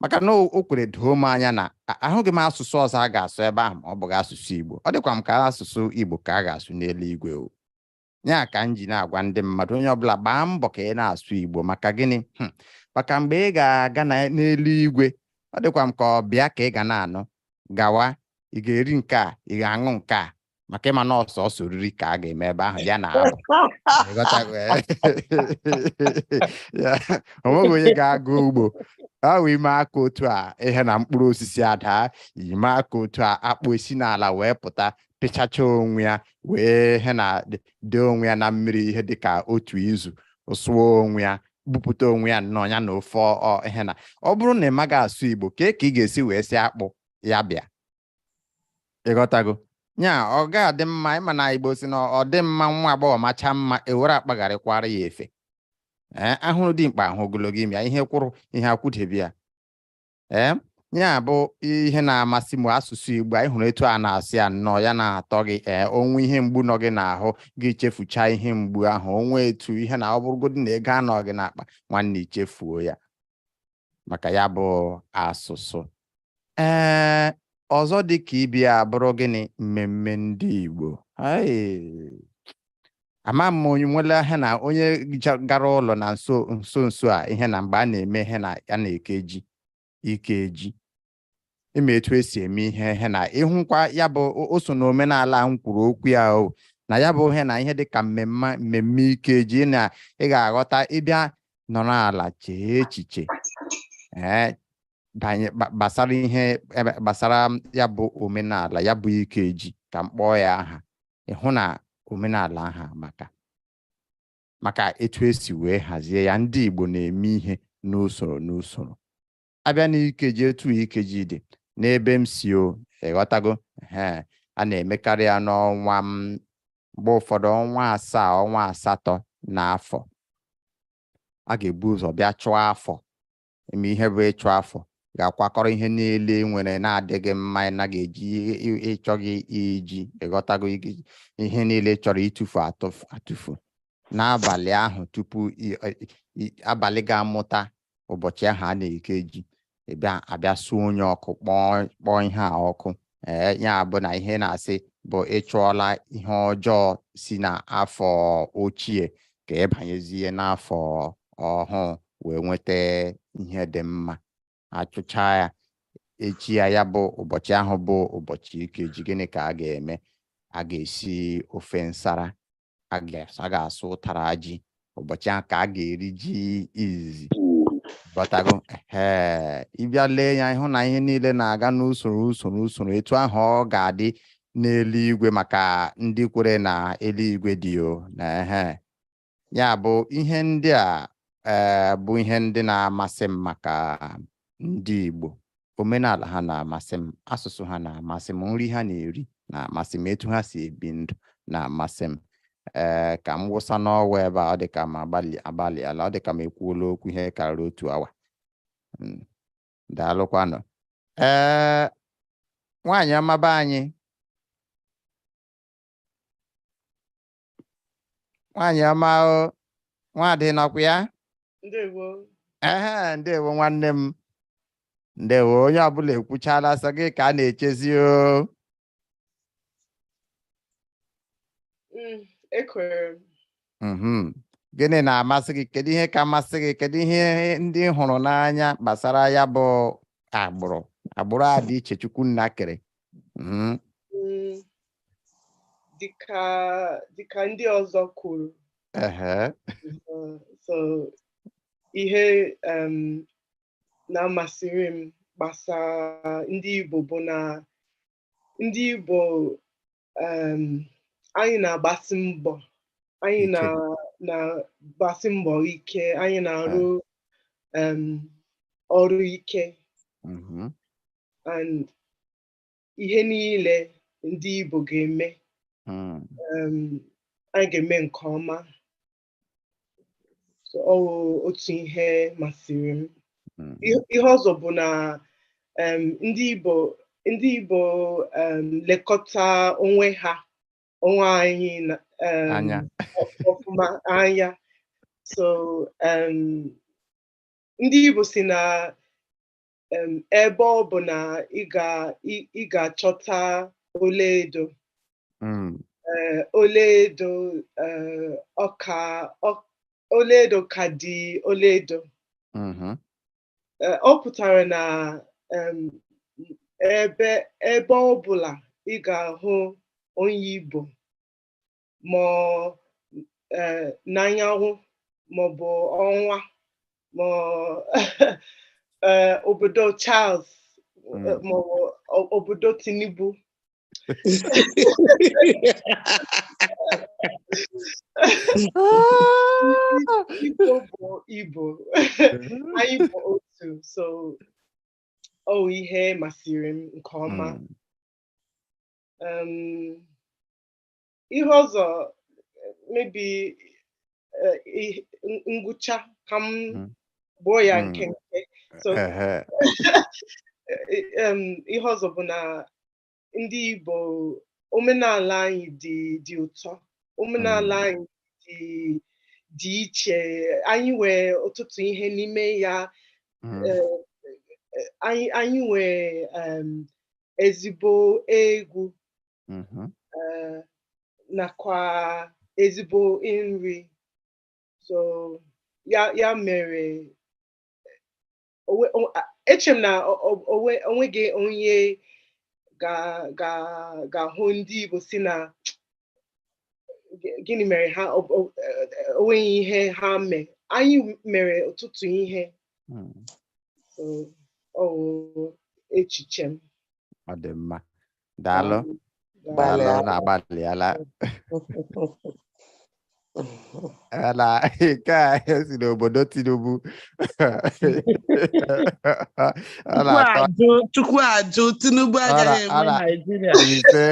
maka na o o kwere doo m anya na a- ahụghị m asụsụ ọzọ a ga-asụ ebe ahụ ma ọ bụghị asụsụ Igbo ọ dịkwa m ka asụsụ Igbo ka a ga-asụ n'eluigwe o ya ka m ji na-agwa ndị mmadụ onye ọbụla gbaa mbọ ka ị na-asụ Igbo maka gịnị Hmm. maka mgbe ị ga-aga na- n'eluigwe ọ dịkwa m ka ọ bịa ka ị ga na-anụ gawa ị ga-eri nke a ị ga-aṅụ nke a maka ịma na ọ sọsọ oriri ka a ga-eme ebe ahụ ya na abụ Ị ghọtago, eh? Ya, o nweghị onye ga-aga ugbo ahụ i mee aka otu a ihe na mkpụrụ osisi adaa i mee aka otu a akpụ esi n'ala wee pụta pịchacha onwe ya wee ihe na dị- dee onwe ya na mmiri ihe dịka otu izu sụọ onwe ya bupụta onwe ya nnọọ ya na ofe ọ- ọ- ihe na ọ bụrụ na ị maghị asụ Igbo kee ka ị ga-esi wee sị akpụ ya bịa ịghọtago ya ọ ga-adị mma ịma na Igbo sị na ọ dị mma nwa agbọghọ macha mma ewere akpagharịkwara ya efe ee ahụrụ dimkpa ahụ ogologo imi ya ihe kwụrụ ihe akwụdebe ya ee ya bụ ihe na-amasị m asụsụ Igbo ị hụrụ etu a na-asụ ya nnọọ ya na-atọ gị ee o nwee ihe mgbu nọ gị n'ahụ gị chefucha ihe mgbu ahụ o nwe etu ihe na ọ bụrụgodị na ego anọghị n'akpa nwanne i chefuo ya maka ya bụ asụsụ ee ọzọ dị ka ibe ya bụrụ gịnị mmemme ndị Igbo ama m onye nwere ihe na onye gara ụlọ na nso nso nso a ihe na mgbe a na-eme ihe na a na-eke ji ikeji ịma etu esi eme ihe ihe na ịhụkwa ya bụ o- o so na omenala m kwuru okwu ya o na ya bụ ihe na ihe dị ka mmemme mmemme ikeji na ị ga-aghọta ị bịa nọrọ ala chee echiche ee banye gba- gbasara ihe ebe gbasara m ya bụ omenala ya bụ ikeji ka m kpọọ ya aha ị hụ na omenala ahụ amaka maka etu esi wee hazie ya ndị Igbo na-eme ihe n'usoro n'usoro a bịa n'ikeji etu ikeji dị n'ebe m si o ịghọtago ee a na-emekarị ya n'ọnwa mgbe ụfọdụ ọnwa asaa ọnwa asatọ na afọ a ga-ebu ụzọ bịa chụọ afọ mee ihe bụ ịchụ afọ ga-akwakọrọ ihe niile i nwere na-adịghị mma ị naghị eji ịchọghị iji ịghọtago ihe niile ị chọrọ ịtụfu atụfu n'abalị ahụ tupu abalị ga-amụta ụbọchị ahụ a na-eke ji ị bịa a bịa sunye ọkụ kpọọ kpọọ ihe a ọkụ ee ya bụ na ihe na-asị bụ ị chụọla ihe ọjọọ si n'afọ ochie ka ị banyezie n'afọ ọhụụ wee nweta ihe dị mma a chụcha ya echi ya ya bụ ụbọchị ahụ bụ ụbọchị ikeji gịnị ka a ga-eme a ga-esi ofe nsara a ga-asụ- a ga-asụ ụtara ji ụbọchị ahụ ka a ga-eri ji izizi ghọtago ee ị bịa lee anya ị hụ na ihe niile na-aga n'usoro usoro usoro etu ahụ ọ ga-adị n'eluigwe maka ndị kwere na eluigwe dị o na ehe ya bụ ihe ndị a ee bụ ihe ndị na-amasị m maka ndị Igbo omenala ha na-amasị m asụsụ ha na-amasị m nri ha na-eri na-amasị m etu ha si ebi ndụ na-amasị m ee ka m wụsa n'ọwa ebe a ọ dị ka m agbalị agbalịala ọ dị ka m ekwuola okwu ihe karịrị otu awa Mm, daalụkwanụ ee nwaanyị ọma be anyị nwaanyị ọma o nwaadị nọkwa ya ndewo ehe ndewo nwanne m ndewo onye ọbụla ekwuchala sọ gị ka a na-echezi o Mm, ekwere m Mhm. gịnị na-amasị gị kedu ihe ka masị gị kedu ihe ndị ị hụrụ n'anya gbasara ya bụ agbụrụ agbụrụ a dị iche Chukwu Nna kere Mhm. Mm, dịka dịka ndị ọzọ kwuru ehe Uh, so ihe um, na-amasịrị m gbasara ndị Igbo bụ na ndị Igbo um, anyị na-agbasi mbọ anyị Ike. na- na-agbasi mbọ ike anyị na-arụ um, ọrụ ike mhm, and ihe niile ndị Igbo ga-eme hmm. um, anyị ga-eme nke ọma ọ wụ otu ihe masịrị m hmm. ihe ọzọ bụ na um, ndị Igbo ndị Igbo um, lekọta onwe ha onwe anyị ọfụma anya so ndị Igbo si na ebe ọ bụla ị ga-achọta ọlaedo hmm. eh, ọlaedo eh, ọ ka ọlaedo ka dị ọlaedo mm-hmm. eh, ọ pụtara na ebe ebe ọ bụla ị ga-ahụ onye Igbo ma eh, n'anyanwụ maọbụ ọnwa ma eh, obodo Charles Mm. eh, maọbụ o- obodo Tinubu Igbo bụ Igbo anyị bụ otu so ọ wụ ihe masịrị m nke ọma Mm. Um, ihe ọzọ maybe ngwụcha ka m hmm. gbuo ya hmm. nkenke so ihe ọzọ bụ na ndị Igbo omenala anyị dị dị ụtọ omenala hmm. anyị dị dị iche anyị nwee ọtụtụ ihe n'ime ya hmm. e, e, anyị nwee ezigbo egwu mm-hmm. eh, nakwa ezigbo nri so ya ya mere eche m na o nweghị onye ga-ahụ ndị Igbo sị na gịnị mere ha o nweghị ihe ha mee anyị mere ọtụtụ ihe hmm. echiche m ọ dị mma daalụ daalụ na agbalịala na nke a esi n'obodo Tinubu Chukwu ajụ Tinubu agaghị enwe Naijiria ise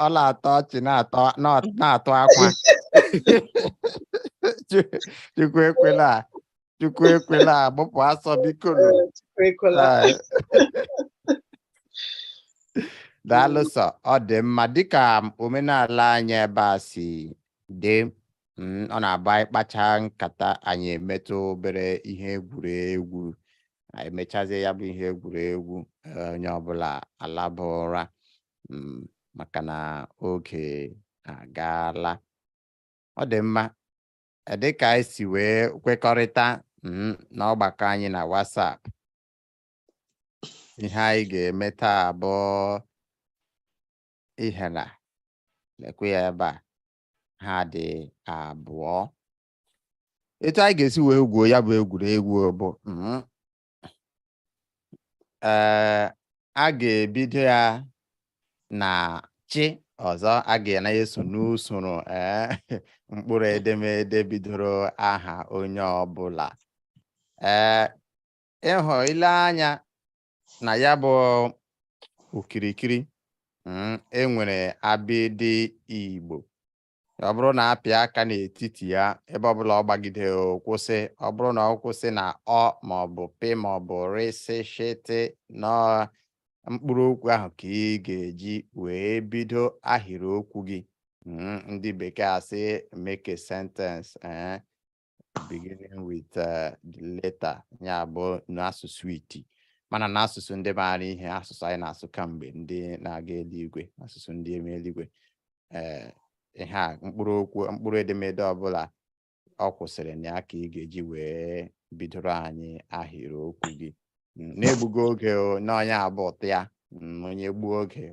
ọ na-atọ ọchị na-atọ akwa Chukwu ekwela Chukwu ekwela gbụpụ asọ biko nụ. Chukwu ekwela. Ee. daalụ sọ ọ dị mma dịka omenala anyị ebe a si dị mm, ọ na-abụ anyị kpachaa nkata anyị emetụ obere ihe egwuregwu anyị emechazie ya bụ ihe egwuregwu eh, onye ọbụla alaba ụra mm, maka na oge agaala ọ dị mma dịka anyị si wee kwekọrịta mm, n'ọgbakọ anyị na WhatsApp ihe anyị ga-eme taa bụ ihe a lekwa ya ebe a ha dị abụọ etu anyị ga-esi wee gwuo ya bụ egwuregwu bụ mm, ee a ga-ebido ya na chị ọzọ a ga na-eso n'usoro ee mkpụrụ edemede bidoro aha onye ọbụla ee ị hụ i lee anya na ya bụ okirikiri mm, e nwere abịdị Igbo ọ bụrụ na a pịa aka n'etiti ya ebe ọbụla ọ gbagide kwụsị ọ bụrụ na ọ kwụsị na ọ ma ọ bụ pị ma ọ bụ rị sị shị tị na mkpụrụ okwu ahụ ka ị ga-eji wee bido ahịrị okwu gị hmm, ndị bekee asị make a sentence eh, beginning with uh, the letter ya bụ n'asụsụ iti mana n'asụsụ ndị maara ihe asụsụ anyị na-asụ kamgbe ndị na-aga eluigwe asụsụ ndị eme eluigwe ee eh, ihe a mkpụrụ okwu mkpụrụ edemede ọbụla ọ kwụsịrị na ya ka ị ga-eji wee bidoro anyị ahịrịokwu gị mm, na-egbughị oge n'onye ọ bụ turn ya mm, onye gbuo oge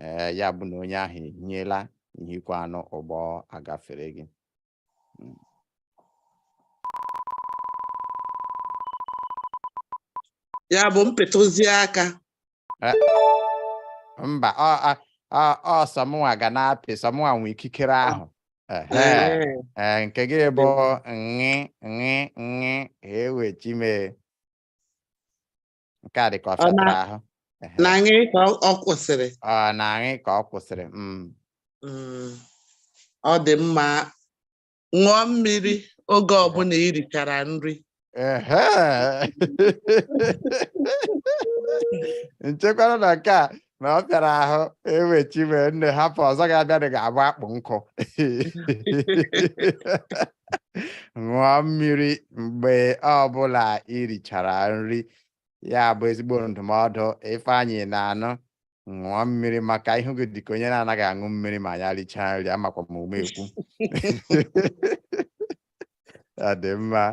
ee ya bụ na onye ahụ ehiela ihikwa anụ ụgbọ agafere gị hmm. ya bụ m pịtụzie aka eh, mba ọ sọ mụnwa ga na-apị sọ mụnwa nwe ikikere ahụ eh. Eh, nke gị bụ ṅị ṅị ṅị ewechi mee nke a dị ka ọ fịatara ahụ na ṅị ka ọ kwụsịrị na ṅị ka ọ kwụsịrị mm. Mm. ọ dị mma ṅụọ mmiri oge ọbụla i richara nri m chekwara na nke a na ọ fịara ahụ ewechi wee nne hapụ ọzọ ga-abịa dị ga-agba akpụ nkụ ṅụọ mmiri mgbe ọbụla irichara nri ya bụ ezigbo ndụmọdụ Ifeanyị na-anụ ṅụọ mmiri maka ihu gị dịka onye na-anaghị aṅụ mmiri ma ya richaa nri amakwa m ume ekwu ọ dị mma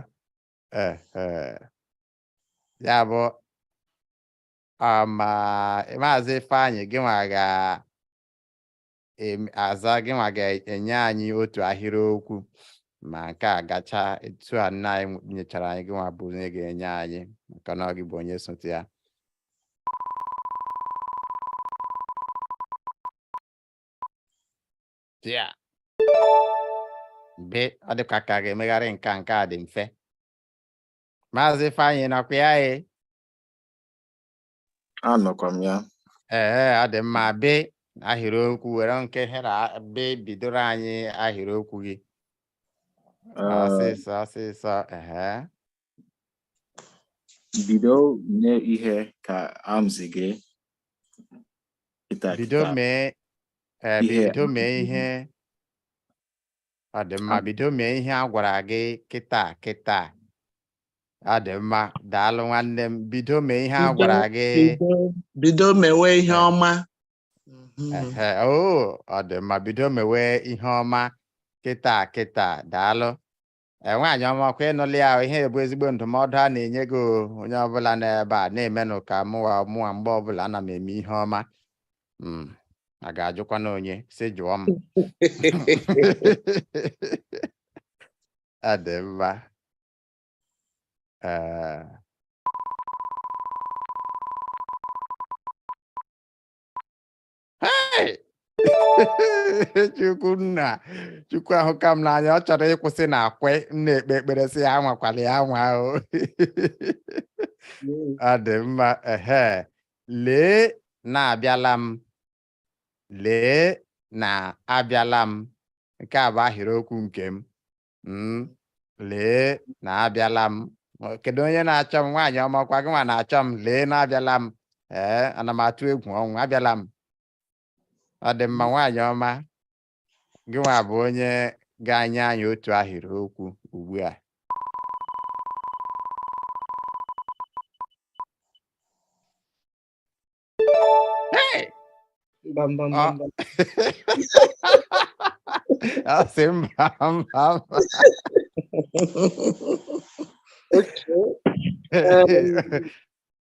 ya bụ ma maazị Ifeanyị gịnwa ga-aza gịnwa ga-enye anyị otu ahịrịokwu ma nke a gachaa etu a nna anyị nyechara anyị gịnwa bụ onye ga-enye anyị maka na ọ gị bụ onye sote ya ya be ọ dịkwa ka a ga-emegharị nke a nke a dị mfe maazị Ifeanyị ị nọkwa ya e anọkwa m ya ee ọ dị mma be ahịrịokwu were nke hera be bidoro anyị ahịrịokwu gị Ee, ọsịsọ ọsịsọ ehe bido mee ihe ka amzi gị kịta bido kịta mee ee Ihe bido mee amụsị gị. ihe ọ dị mma bido mee ihe a gwara gị kịta kịta ọ dị mma daalụ nwanne m bido mee ihe a gwara gị bido mewe ihe ọma o ọ dị mma bido mewe ihe ọma kịta kịta daalụ e, nwaanyị ọma ọ kwa ị nụla ya ihe bụ ezigbo ndụmọdụ a na-enye gị onye ọbụla n'ebe a na-emenụ ka mụwa mụwa mgbe ọbụla ana m eme ihe ọma Mm, a ga-ajụkwa m onye si jụọ m ọ dị mma Eh, hey! chukwu nna chukwu ahụka m n'anya ọ chọrọ ịkwụsị na akwe m na-ekpe ekpere sị ya anwakwala ya anwa o ọ dị mma ehe Lee na abịala m. Lee na abịala m. Nke a bụ ahịrịokwu nke m. Mm, Lee na abịala m. Ọ- Kedu onye na-achọ m? Nwaanyị ọma ọkwa gị nwa na-achọ m. Lee na abịala m. Ee, ana m atụ egwu ọnwụ. Abịala m. Ọ dị mma nwaanyị ọma. gịnwa bụ onye ga-anye anyị otu ahịrị okwu ugbu a Hey! Bam, bam, Ọ- bam, bam. ọ sị mba mba mba Okay. Um,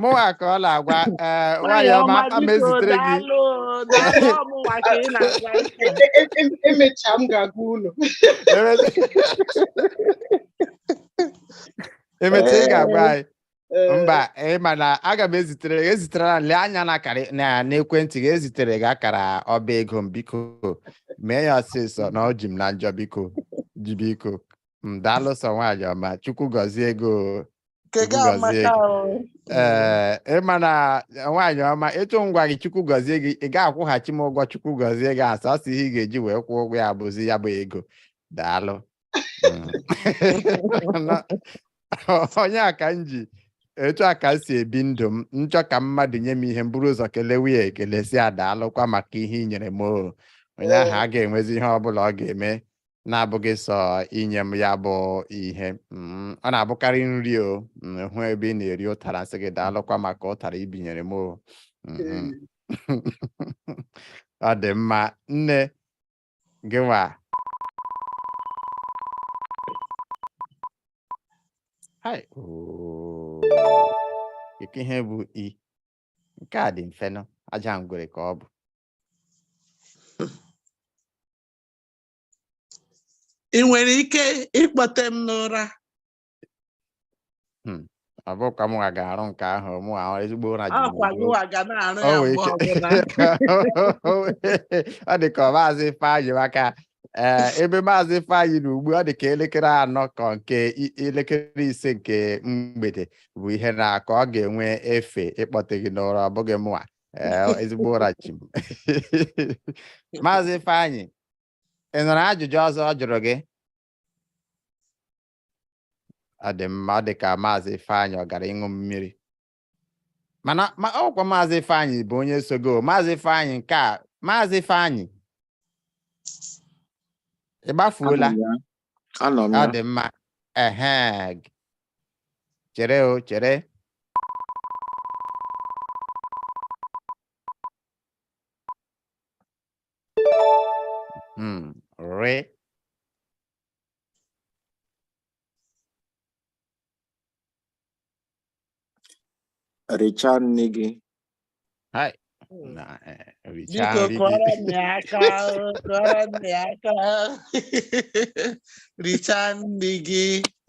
mụwa ka ọ na-agwa ee nwaanyị ọma aga m ezitere gị emecha m ga-agwa unu emecha ị ga-agwa anyị mba ị ma na aga m ezitere gị ezitere na lee anya n'akara n'ekwentị gị ezitere m gị akara ọba ego m biko mee ya ọsịsọ na ọ ji m na njọ biko ji biko m daalụ sọ nwaanyị ọma chukwu gọzie gị o nke Chukwu gị gọzie amaka gị. o. ee mana nwaanyị ọma etu m gwara gị chukwu gọzie gị ị ga-akwụghachi m ụgwọ chukwu gọzie gị ahụ a sị ihe ị ga-eji wee kwụọ ụgwọ ya bụzi ya bụ ego daalụ Mm. Na- onye a ka m ji etu a ka m si ebi ndụ m m chọọ ka mmadụ nye m ihe m buru ụzọ kelewe ya ekele sị ya daalụkwa maka ihe i nyere m o onye ahụ agaghị enwezi ihe ọ bụla ọ ga-eme na-abụghị sọ inye m ya bụ ihe mm, ọ na-abụkarị nri o m hụ ebe ị na-eri ụtara m sị gị daalụkwa maka ụtara i binyere m o mm, mm. ọ dị mma nne gịwa hai oo. Ike ihe bụ i nke a dị mfe nụ aja ngwere ka ọ bụ ị nwere ike ịkpọte m n'ụra hmm, ọ bụ ka mụnwa ga-arụ nke ahụ mụwa ezigbo ụra ji ọkwa gịwa ga na-arụ ya mgbe ọbụla ọ dị ka maazị Ifeanyị maka eh, ebe maazị Ifeanyị nọ ugbu a ọ dị ka elekere anọ ka nke elekere ise nke mgbede bụ ihe na-akụ ọ ga-enwe efe ịkpọte gị n'ụra ọ bụghị mụnwa Ee, ezigbo ụra chi m maazị Ifeanyị ị nụrụ ajụjụ ọzọ ọ jụrụ gị ọ dị mma ọ dị ka maazị Ifeanyị ọ gara ịṅụ mmiri mana ọkwa maazị Ifeanyị bụ onye sogo maazị Ifeanyị nke a maazị Ifeanyị ị gbafuola Abụ m ya. Anọ m ya. ọ dị mma ehe g- chere o chere Hmm, rị richaa nri gị Hai. Na, eh, richaa Biko nri gị. kụọrọ m ya aka ahụ, kụọrọ m ya aka ahụ. Richaa nri gị.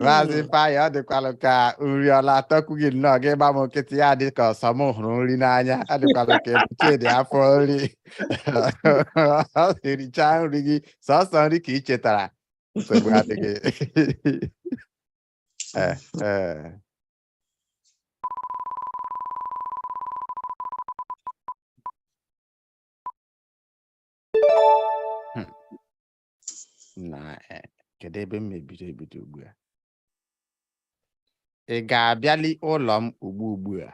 Maazị Mm. Ifeanyị ọ dịkwalụ ka nri ọ la-atọkwu gị nnọọ gị gba m nkịtị ya dị ka ọ sọ m hụrụ nri n'anya ọ dịkwalụ ka ebuche dị afọ nri ọ sị richaa nri gị sọsọ nri ka ị chetara nsogbu adịghị Eh, eh. Hmm. na eh, kedu ebe m mebiri ebido ugbu a ị ga-abịali ụlọ m ugbu ugbu a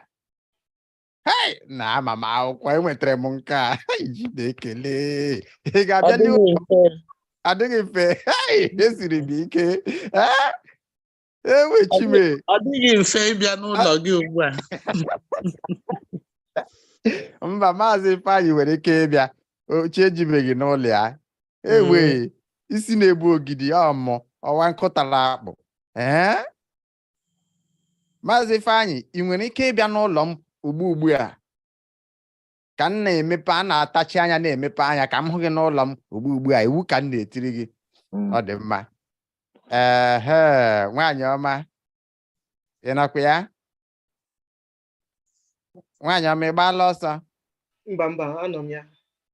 hei na ama m akwụkwọ enwetara m nke a Hei, Chineke lee ị ga-abịa n'ihu Ọ dịghị mfe. adịghị mfe hei esiri m ike ee ewe chi m Ọ dịghị mfe ịbịa n'ụlọ gị ugbu a. mba maazị ifeanyị nwere ike ịbịa o chi ejibeghị n'ụlọ ya ewe isi na-egbu ogidi ọmụ ọwa nkụtara akpụ ee maazị Ifeanyị ị nwere ike ịbịa n'ụlọ m ugbu ugbu a ka m na-emepe a na-atachi anya na-emepe anya ka m hụ gị n'ụlọ m ugbu ugbu a iwu ka m na-etiri gị mm. ọ dị mma ehe nwaanyị ọma ị nọkwa ya nwaanyị ọma ị gbaala ọsọ mba mba anọ m ya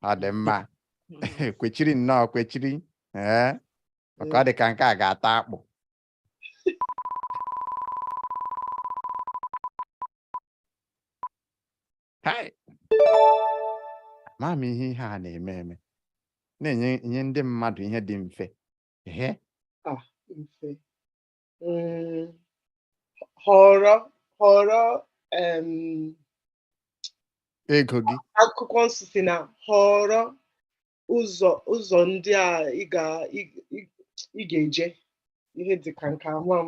ọ dị mma kwechiri nnọọ kwechiri ee maka ọ dị ka nke a ga-ata akpụ Hai! Amaghị m ihe ihe a na-eme eme. Na-enye ndị mmadụ ihe dị mfe. Ehe. Ah, mfe. Mm, họrọ họrọ em, Ego gị. akwụkwọ nsọ sị na họrọ ụzọ ụzọ ndị a ị ga ị- ị- ị ga-eje ihe dị ka nke ahụ m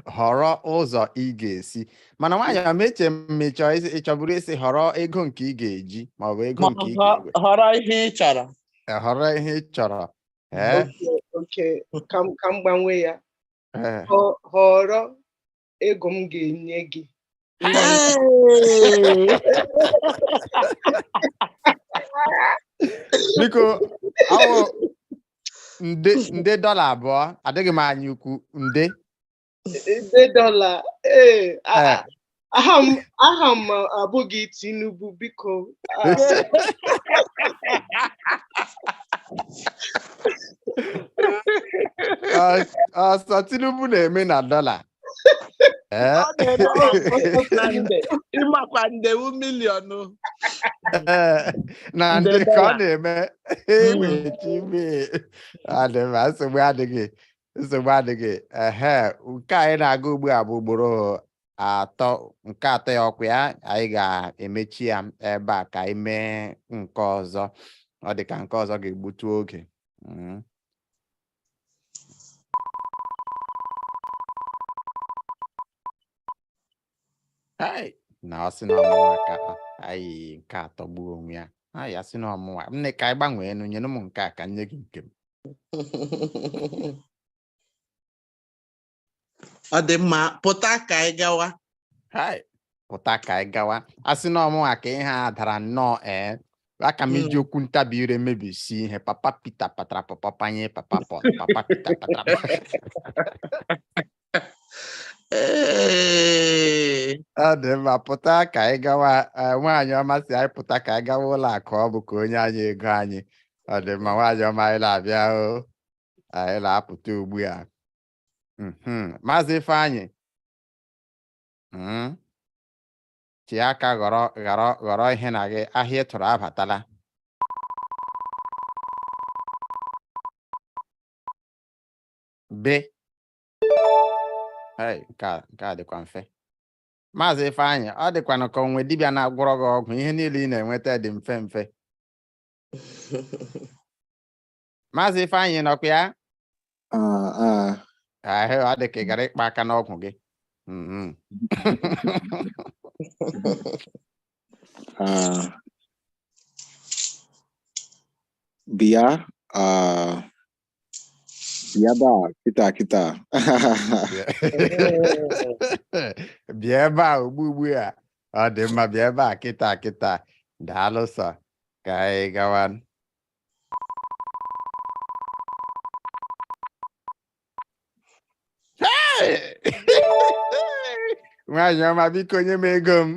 họrọ ụzọ ị ga-esi mana nwaanyị ọma eche m ị chọ ịsị- ị chọburu ịsị họrọ ego nke ị ga-eji maọbụ ego Ma nke ị họ- ga-ewe họrọ ihe ị chọrọ Eh, họrọ ihe ị chọrọ ee okay ka m ka m gbanwee ya eh, Họ- họrọ ego m ga-enye gị biko awụ nde nde dọla abụọ adịghị m anya ukwu nde nde dọla ee eh. aha m aha m abụghị Tinubu biko ah. ọ sọ Tinubu na-eme na dọla eh? ị makwa nde wụ miliọnụ eh, na ndị ka ọ na-eme emechi hmm. ime ọ dị mma nsogbu adịghị nsogbu adịghị ehe nke anyị na-aga ugbu a bụ ugboro atọ nke atọ ya ọkwa ya anyị ga-emechi ya ebe a ka anyị mee nke ọzọ ọ dị ka nke ọzọ ga-egbutu oge mm. na a sị na ọ mụnwa ka anyị nke a atọgbuo onwe ya a sị na ọ mụnwa nne ka anyị gbanweenụ nyenụ m nke a ka m nye gị nke m ọ dị mma pụta ka anyị gawa Hai, pụta ka anyị gawa a sị na ọ mụnwa ka ihe a dara nnọọ ee aka m iji okwu ntabi ire mebisi ihe papa pita patara pọpọ panye papa Pọl papa pita patara Ee, ọ dị mma pụta ka anyị gawa eh, nwaanyị ọma sị anyị pụta ka anyị gawa ụlọ akụ ọ bụ ka o nye anyị ego anyị ọ dị mma nwaanyị ọma anyị na-abịa o anyị na-apụta ugbu a mhm. maazị Ifeanyị mhm. chee aka ghọrọ ghọrọ ghọrọ ihe na gị ahịa ị tụrụ abatala be Hey, nke a nke a dịkwa mfe maazị Ifeanyị ọ dịkwanụ ka o nwe dibịa na-agwọrọ gị ọgwụ ihe niile ị na-enweta dị mfe mfe Maazị Ifeanyị nọkwa ya? Ah, ọ dị ka ị gara ịkpa aka n'ọgwụ gị. Mm-hmm. Bịa bịa ebe a kịta kịta. Bịa ebe a ugbu ugbu a. Ọ dị mma bịa ebe a kịta kịta. Daalụ sọ. Ka anyị gawa. nwaanyị ọma biko nye m ego m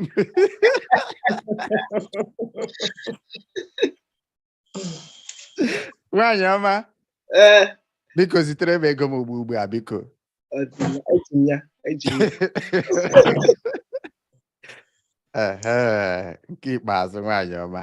nwaanyị ọma ee biko zitere m ego m ugbu ugbu a biko ọ dị mma, eji m ya eji m ya Ehe, nke ikpeazụ nwaanyị ọma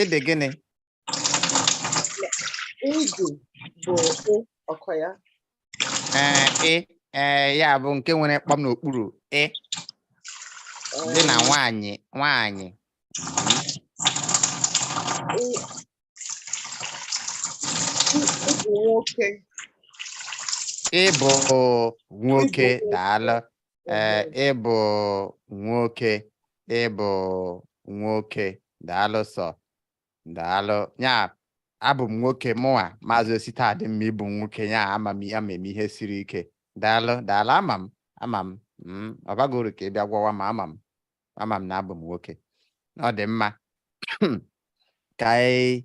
ịdị gịnị ịdị bụ ị ọkọ ya ee ị ee ya bụ nke nwere kpọm n'okpuru ị dị na nwaanyị nwaanyị ị bụ nwoke daalụ ee ị bụ nwoke ị bụ nwoke daalụ sọ daalụ ya abụ m nwoke mụnwa maazị ositadịmma ị bụ nwoke ya ama m ya ma eme ihe siri ike daalụ daalụ ama m ama m mm, ọ baghị uru ka ị bịa gwawa m ama m ama m na abụ m nwoke na ọ dị mma ka anyị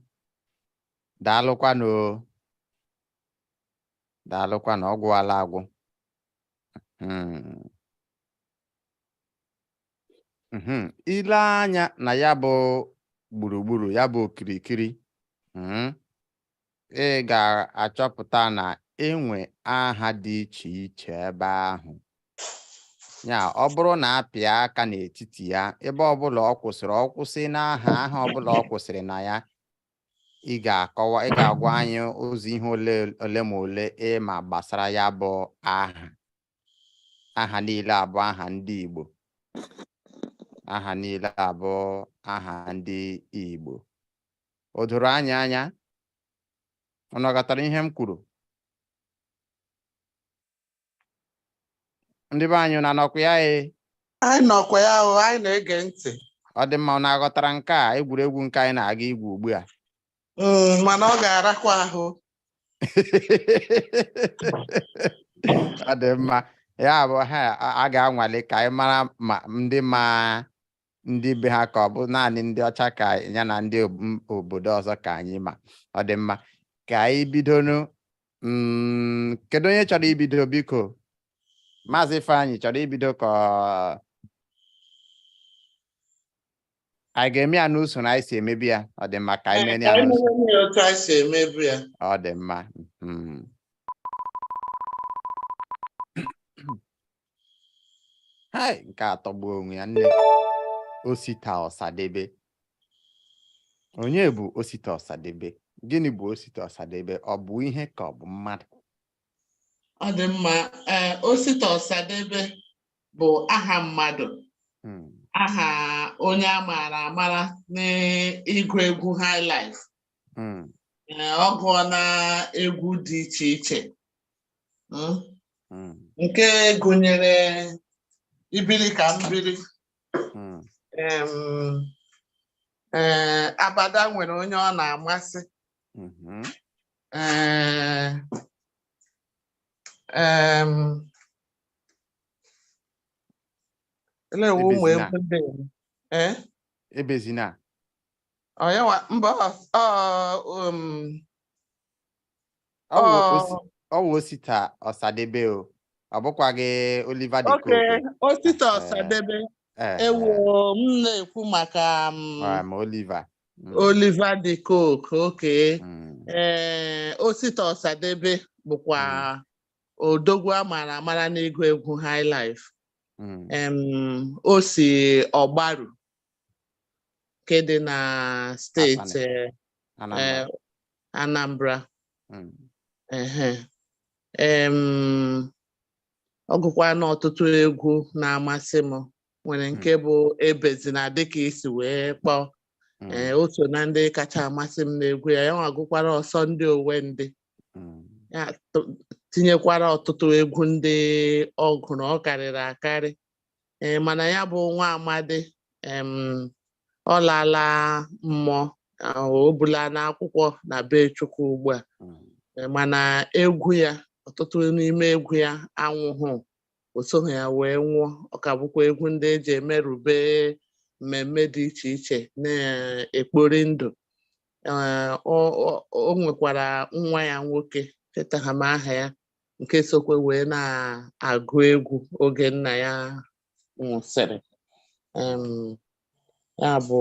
daalụkwanụ o. daalụkwanụ ọ gwụwala agwụ Hmm. Hmm. ile anya na ya bụ gburugburu ya bụ okirikiri hmm, ị ga-achọpụta na e nwe aha dị iche iche ebe ahụ ya ọ bụrụ na a pịa aka n'etiti ya ebe ọbụla ọ kwụsịrị ọ kwụsị n'aha aha ọbụla ọ kwụsịrị na ya ị ga-akọwa ị ga-agwa anyị ụzọ ihe ole ole ma ole ị ma gbasara ya bụ aha aha niile abụ aha ndị Igbo aha niile abụ aha ndị Igbo o doro anyị anya unu ghọtara ihe m kwuru ndị be anyị unu nọkwa ya e anyị nọkwa ya o anyị na-ege ntị ọ dị mma na a ghọtara nke a egwuregwu nke anyị na-aga igwu ugbu a mm, mana ọ ga-arakwa ahụ ọ dị mma ya bụ ha a ga-anwale ka anyị mara ma ndị ma ndị be ha ka ọ bụ naanị ndị ọcha ka ya na ndị obodo ọzọ ka anyị ma ọ dị mma ka anyị bidonu mm, kedu onye chọrọ ibido biko maazị Ifeanyị chọrọ ibido ka anyị ga-eme ya n'usoro anyị si emebu ya ọ dị mma ka anyị mee ya n'usoro ọ dị mma hmm. hai nke a atọgbu onwe ya nne osita ọsadebe onye bụ osita ọsadebe gịnị bụ osita ọsadebe ọ bụ ihe ka ọ bụ mmadụ ọ dị mma ee osita ọsadebe bụ aha mmadụ hmm. aha onye a maara amara n'ịgụ egwu high life hmm. eh, ọ gụọna egwu dị iche iche hmm? Hmm. nke gụnyere ibiri ka m biri eh, abada nwere onye ọ na-amasị mm-hmm. eh, Ele ụmụ egwu ndị ebezina Ọ ya nwa mba ọ um, Ọ wụ ọ osi- ọ wụ osita ọsadebe o ọ bụkwaghị Oliver de oke Coque osita Eh, ọsadebe eh, ewo m na-ekwu maka um, eh, ma Oliver Mm, Oliver de Coque okay mm, ee osita ọsadebe bụkwa odogwu a mara amara n'ịgụ egwu high life mm, em, o si ọgbaru nke dị na steeti eh, eh, Anambra hmm. ọ gụkwara ọtụtụ egwu na-amasị m nwere nke hmm. bụ ebezina dịka i si wee kpọọ hmm. eh, o so na ndị kacha amasị m n'egwu ya ya nwa gụkwara ọsọ ndị owe ndị ya tinyekwara ọtụtụ egwu ndị ọ gụrụ ọ karịrị akarị ee mana ya bụ nwa amadi ọ laala mmụọ o bulana akwụkwọ na be Chukwu ugbu a hmm. mana egwu ya ọtụtụ n'ime egwu ya anwụhụ o soghị ya wee nwụọ ọ ka bụkwa egwu ndị e ji emerube mmemme dị iche iche na-ekpori ndụ o nwekwara nwa ya nwoke echetaghị m aha ya nke sokwa wee na-agụ egwu oge nna ya nwụsịrị Em, ya bụ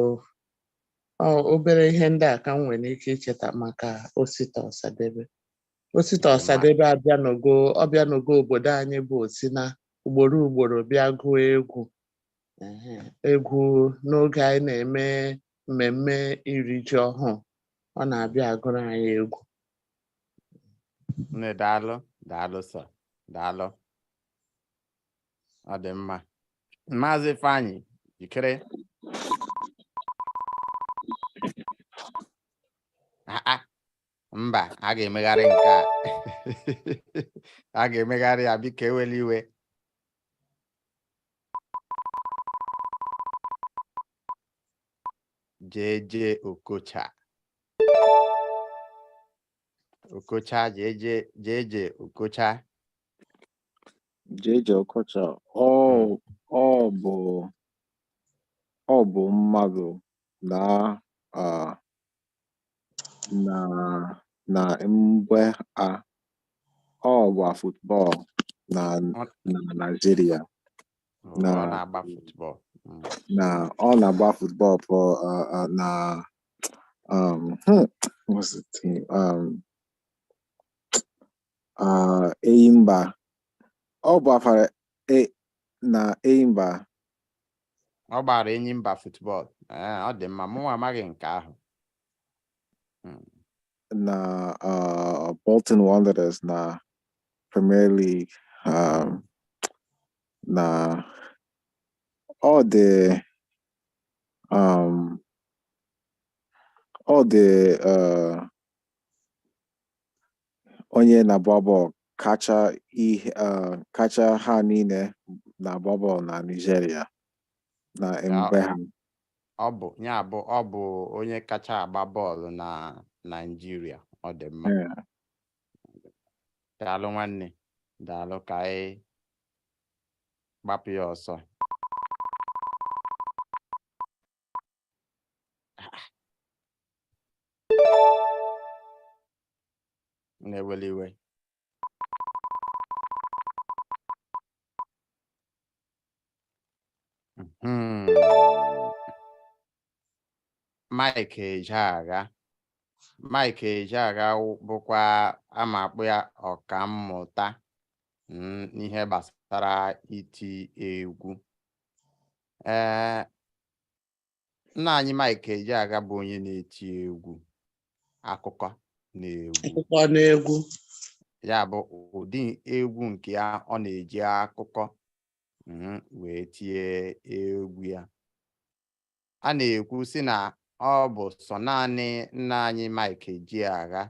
ọ obere ihe ndị a ka m nwere ike icheta maka Osita Ọsadebe Osita Dị mma. Ọsadebe abịanogo ọ bịanogo obodo anyị bụ Osina ugboro ugboro bịa gụọ egwu Ehe, egwu n'oge anyị na-eme mmemme iri ji ọhụụ ọ na-abịa agụrụ anyị egwu nne daalụ daalụ sọ daalụ ọ dị mma maazị Ifeanyị jikere Ah, ah. mba a ga-emegharị nke a a ga-emegharị ya biko ewela iwe Jay-Jay Okocha Okocha Jay-Jay Jay-Jay Okocha Jay-Jay Okocha ọ ọ bụ ọ bụ mmadụ na na na mgbe a ọ gba football na na Naịjirịa na ọ na-agba football mm. na ọ na-agba football for uh, uh, na um hmm, what's the team um uh Enyimba ọ gba for e na Enyimba ọ gbara Enyimba football ee eh, ọ dị mma mụnwa amaghị nke ahụ hmm. na uh, Bolton Wanderers na Premier League um, na ọ dị um, ọ dị uh, onye na-agba ball kacha ihe uh, kacha ha niile na-agba ball na Nigeria na mgbe ahụ ọ bụ ya bụ ọ bụ onye kacha agba bọọlụ na Naịjirịa ọ dị mma Yeah. daalụ nwanne daalụ ka anyị gbapụ ya ọsọ nna ewela iwe Hmm. Mike Ejeagha Mike Ejeagha bụkwa aga m akpọ ya ọkammụta mm, n'ihe gbasara iti egwu ee eh, nna anyị Mike Ejeagha bụ onye na-eti egwu akụkọ na egwu akụkọ na egwu ya bụ ụdị egwu nke ya ọ na-eji akụkọ mhm, wee tie egwu ya a na-ekwu sị na ọ bụ sọ naanị nna anyị Mike Ejeagha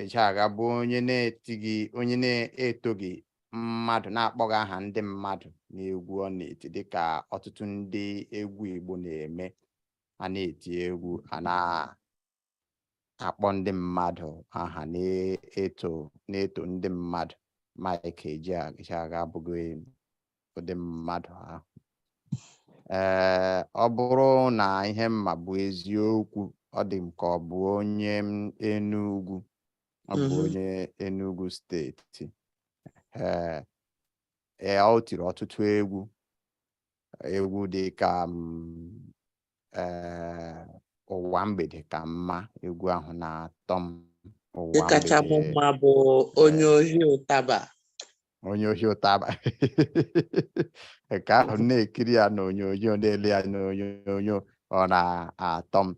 Ejeagha bụ onye na-etighị onye na-etoghị mmadụ na-akpọghị aha ndị mmadụ n'egwu ọ na-eti dịka ọtụtụ ndị egwu Igbo na-eme a na-eti egwu a na-akpọ ndị mmadụ aha na-eto na-eto ndị mmadụ Mike Ejeagha abụghị ụdị mmadụ ahụ ee ọ bụrụ na ihe m ma bụ eziokwu ọ dị m ka ọ bụ onye Enugu ọ bụ Mhm. onye Enugu steeti ee ee, ọ tiri ọtụtụ egwu egwu dị ka mm, ee ụwa mgbede ka mma egwu ahụ na-atọ m ụwa Nke kacha mụ mgbede mma bụ onye ohi ụtaba. onye ohi ụtaba nke ahụ m na-ekiri ya n'onyonyo na-ele ya n'onyonyo ọ na-atọ m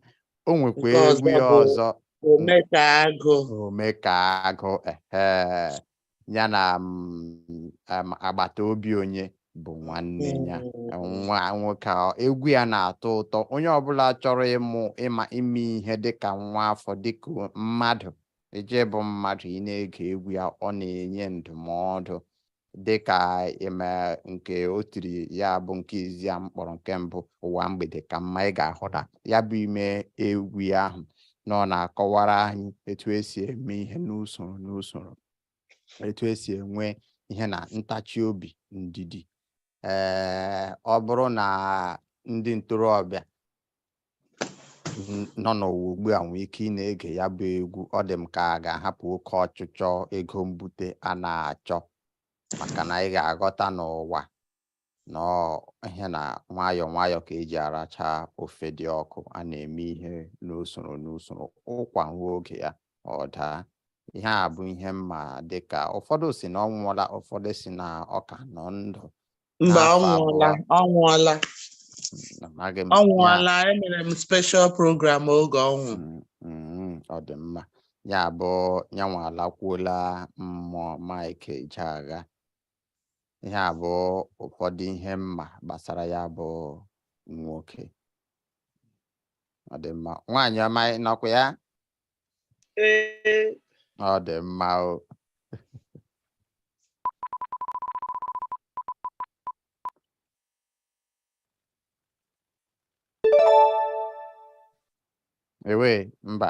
o nwekwa Nke egwu ọzọ ya bụ ọzọ Ome ka agụ. ome ka agụ ehe ya na mm, um, agbata obi onye bụ nwanne ya nwa nwoke a ọ- egwu ya na-atọ ụtọ onye ọbụla chọrọ ịmụ ịma ime ihe dịka nwa afọ dịka o- mmadụ ije bụ mmadụ ị na-ege egwu ya ọ na-enye ndụmọdụ dịka ime nke o tiri ya bụ nke izizi a m kpọrọ nke mbụ ụwa mgbede ka mma ị ga-ahụta ya bụ ime egwu ya ahụ na ọ na-akọwara anyị etu e si eme ihe n'usoro n'usoro etu e si enwe ihe na ntachi obi ndidi ee ọ bụrụ na ndị ntorobịa nọ n'ụwa ugbu a nwee ike ịna-ege ya bụ egwu ọ dị m ka a ga-ahapụ oke ọchịchọ ego mbute a na-achọ maka na ị ga-aghọta n'ụwa na ihe na nwayọọ nwayọọ ka e ji aracha ofe dị ọkụ a na-eme ihe n'usoro n'usoro ụkwa ruo oge ya ọ daa ihe a bụ ihe m ma dịka ụfọdụ sị na ọ nwụọla ụfọdụ sị na ọ ka nọ ndụ mba ọ N'afọ nwụọla abụọ. ọ nwụọla amaghị m ọ ya. nwụọla emere m special program oge ọ nwụrụ Mm, mm, ọ dị mma ya bụ ya nwa alakwuola mmụọ Mike Ejeagha ihe a bụ ụfọdụ ihe mma gbasara ya bụ nwoke ọ dị mma nwaanyị ọma ị nọkwa ya Ee, ọ dị mma o ewe mba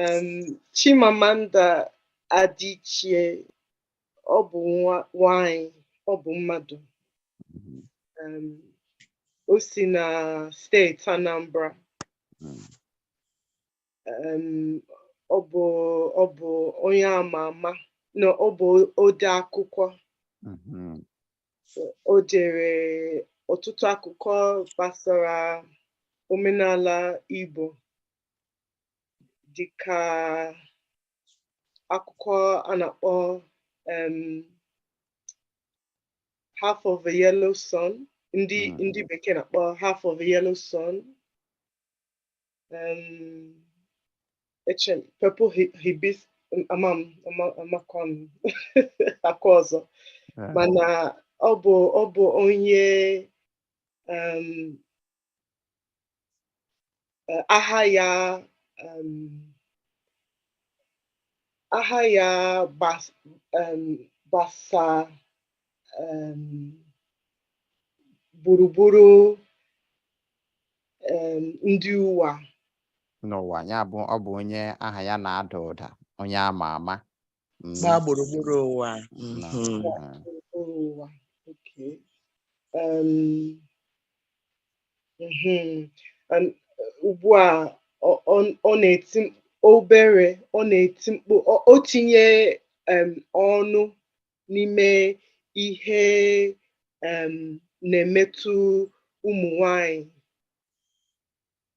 um, Chimamanda Adichie ọ bụ nwanyị ọ bụ mmadụ mm-hmm. um, o si na steeti Anambra mm. um, ọ bụ ọ bụ onye ama ama na ọ bụ ode akwụkwọ mm-hmm. o dere ọtụtụ akụkọ gbasara omenala Igbo dịka akwụkwọ a na-akpọ um, half of a yellow sun ndị Mm. ndị bekee na-akpọ half of a yellow sun um, eche m, purple hi- hibis ama m ama- amakwa m akwa ọzọ Eh, mana ọ bụ ọ bụ onye um, eh, aha ya aha ya gbasa gburugburu ndị ụwa n'ụwa ya bụ ọ bụ onye aha ya na-ada ụda onye ama ama Mm, gbaa gburugburu ụwa na, Mhm. ah, Gburugburu ụwa. Okay. Um, mhm. And, uh, ugbu a ọ- ọ- ọ na-eti m- obere ọ na-eti mkpu ọ- o tinye um, ọnụ n'ime ihe um, na-emetụ ụmụ nwanyị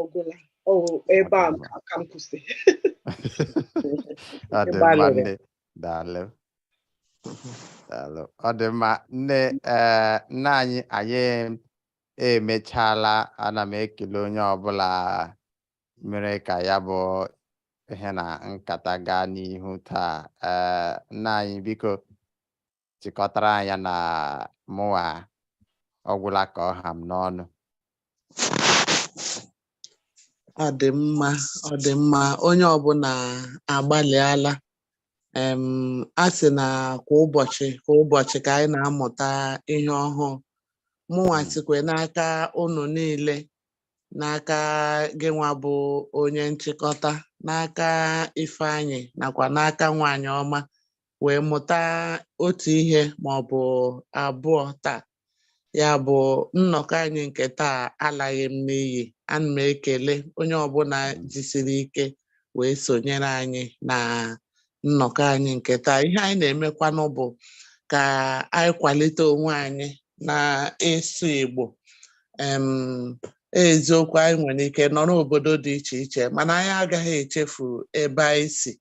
ọgwụla ebe a ka m kwụsị ọ dị mma nne daalụ daalụ ọ dị mma nne eh, nna anyị anyị emechaala ana m ekele onye ọbụla mere ka ya bụ ihe na nkata gaa n'ihu taa eh, nna anyị biko chịkọtara anyị ya na mụwa ọgwụla ka ọ ha m n'ọnụ ọ dị mma ọ dị mma onye ọbụla agbalịala em a sị na kwa ụbọchị kwa ụbọchị ka anyị na-amụta ihe ọhụụ mụnwa Mm. sikwe n'aka unu niile n'aka gịnwa bụ onye nchịkọta n'aka ifeanyị nakwa n'aka nwanyị ọma wee mụta otu ihe ma ọ bụ abụọ taa ya bụ nnọkọ anyị nke taa alaghị n'iyi ana m ekele onye ọbụla jisiri ike wee sonyere anyị na nnọkọ anyị nke taa ihe anyị na-emekwanụ bụ ka anyị kwalite onwe anyị na ịsụ Igbo em eziokwu anyị nwere ike nọrọ obodo dị iche iche mana anyị agaghị echefu ebe anyị si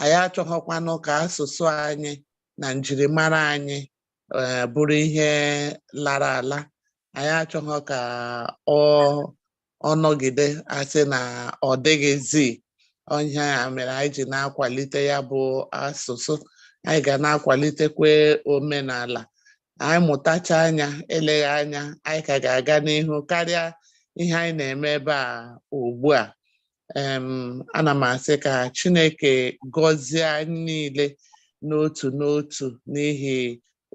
anyị achọghọkwanụ ka asụsụ anyị na njirimara anyị eh, bụrụ ihe lara ala anyị achọghọ ka ọ nọgide a sị na ọ dịghịzi ọ ihe a mere anyị ji na-akwalite ya bụ asụsụ anyị ga na-akwalitekwa omenala anyị mụtachaa ya eleghị anya anyị ka ga-aga n'ihu karịa ihe anyị na-eme ebe a ugbu a ana m asị ka Chineke gọzie anyị niile n'otu n'otu n'ihi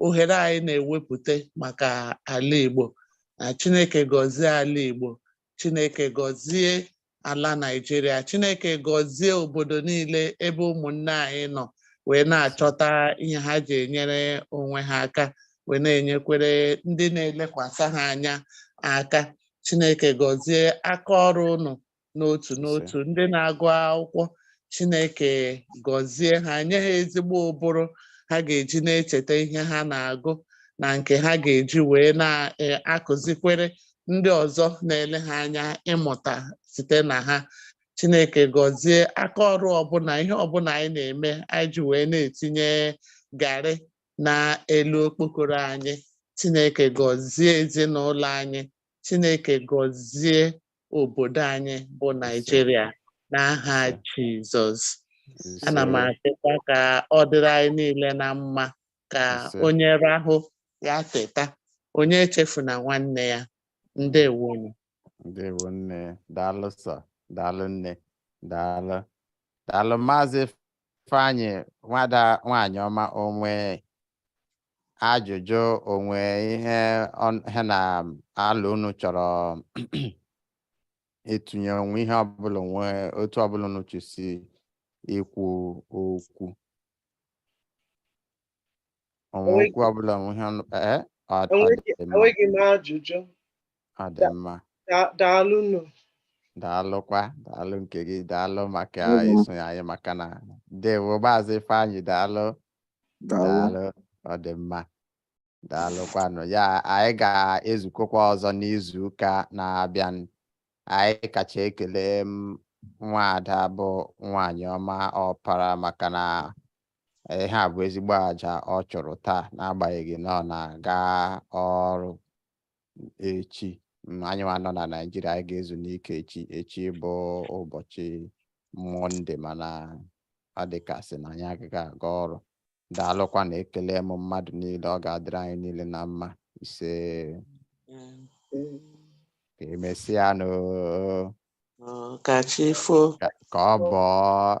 ohere anyị na-ewepụta maka ala Igbo na Chineke gọzie ala Igbo Chineke gọzie ala Naịjirịa Chineke gọzie obodo niile ebe ụmụnne anyị nọ wee na-achọta ihe ha ji enyere onwe ha aka wee na-enyekwere ndị na-elekwasị ha anya aka Chineke gọzie aka ọrụ ụnụ n'otu n'otu ndị na-agụ akwụkwọ Chineke gọzie ha nye ha ezigbo ụbụrụ ha ga-eji na-echeta ihe ha na-agụ na nke ha ga-eji wee na-akụzikwere e, ndị ọzọ na-ele ha anya ịmụta site na ha Chineke gọzie aka ọrụ ọbụla ihe ọbụla anyị na-eme anyị ji wee na-etinye garị n'elu okpokoro anyị Chineke gọzie ezinụlọ anyị Chineke gọzie obodo anyị bụ Naịjirịa n'aha Jizọs ana m asịkwa ka ọ dịrị anyị niile na mma ka onye rahụ ya teta onye echefuna nwanne ya ndewonụ ndewo nne daalụ sọ daalụ nne daalụ daalụ maazị Ifeanyị nwada nwaanyị ọma o nwe ajụjụ o nwe ihe ọ- ha na alo unu chọrọ ịtụnye o nwe ihe ọbụla o nwe otu ọbụla unu chọsi ikwu okwu o nwe Enweghị- okwu ọbụla o nwe ihe unu kpa- eh? Ọ ọ Enweghị- dị mma, enweghị m ajụjụ ọ dị mma Da- daalụ nụ daalụkwa daalụ nke gị daalụ maka Mhm. isonye anyị maka ndewo maazị Ifeanyị daalụ daalụ ọ dị mma daalụkwanụ ya anyị ga-ezukọkwa ọzọ n'izu ụka na-abịa anyị kacha ekele nwaada bụ nwaanyị ọma ọpara maka na ihe a bụ ezigbo aja ọ chụrụ taa n'agbanyeghị na ọ na-aga ọrụ echi mm, anyị nwa nọ na Naịjirịa anyị ga-ezu n'ike echi echi bụ ụbọchị mọnde mana ọ dị ka a sị na anyị agaghị aga ọrụ daalụkwanụ ekele m mmadụ niile ọ ga-adịrị anyị niile na mma ise ka emesịa nụ ka chi fo ka ọ bọọ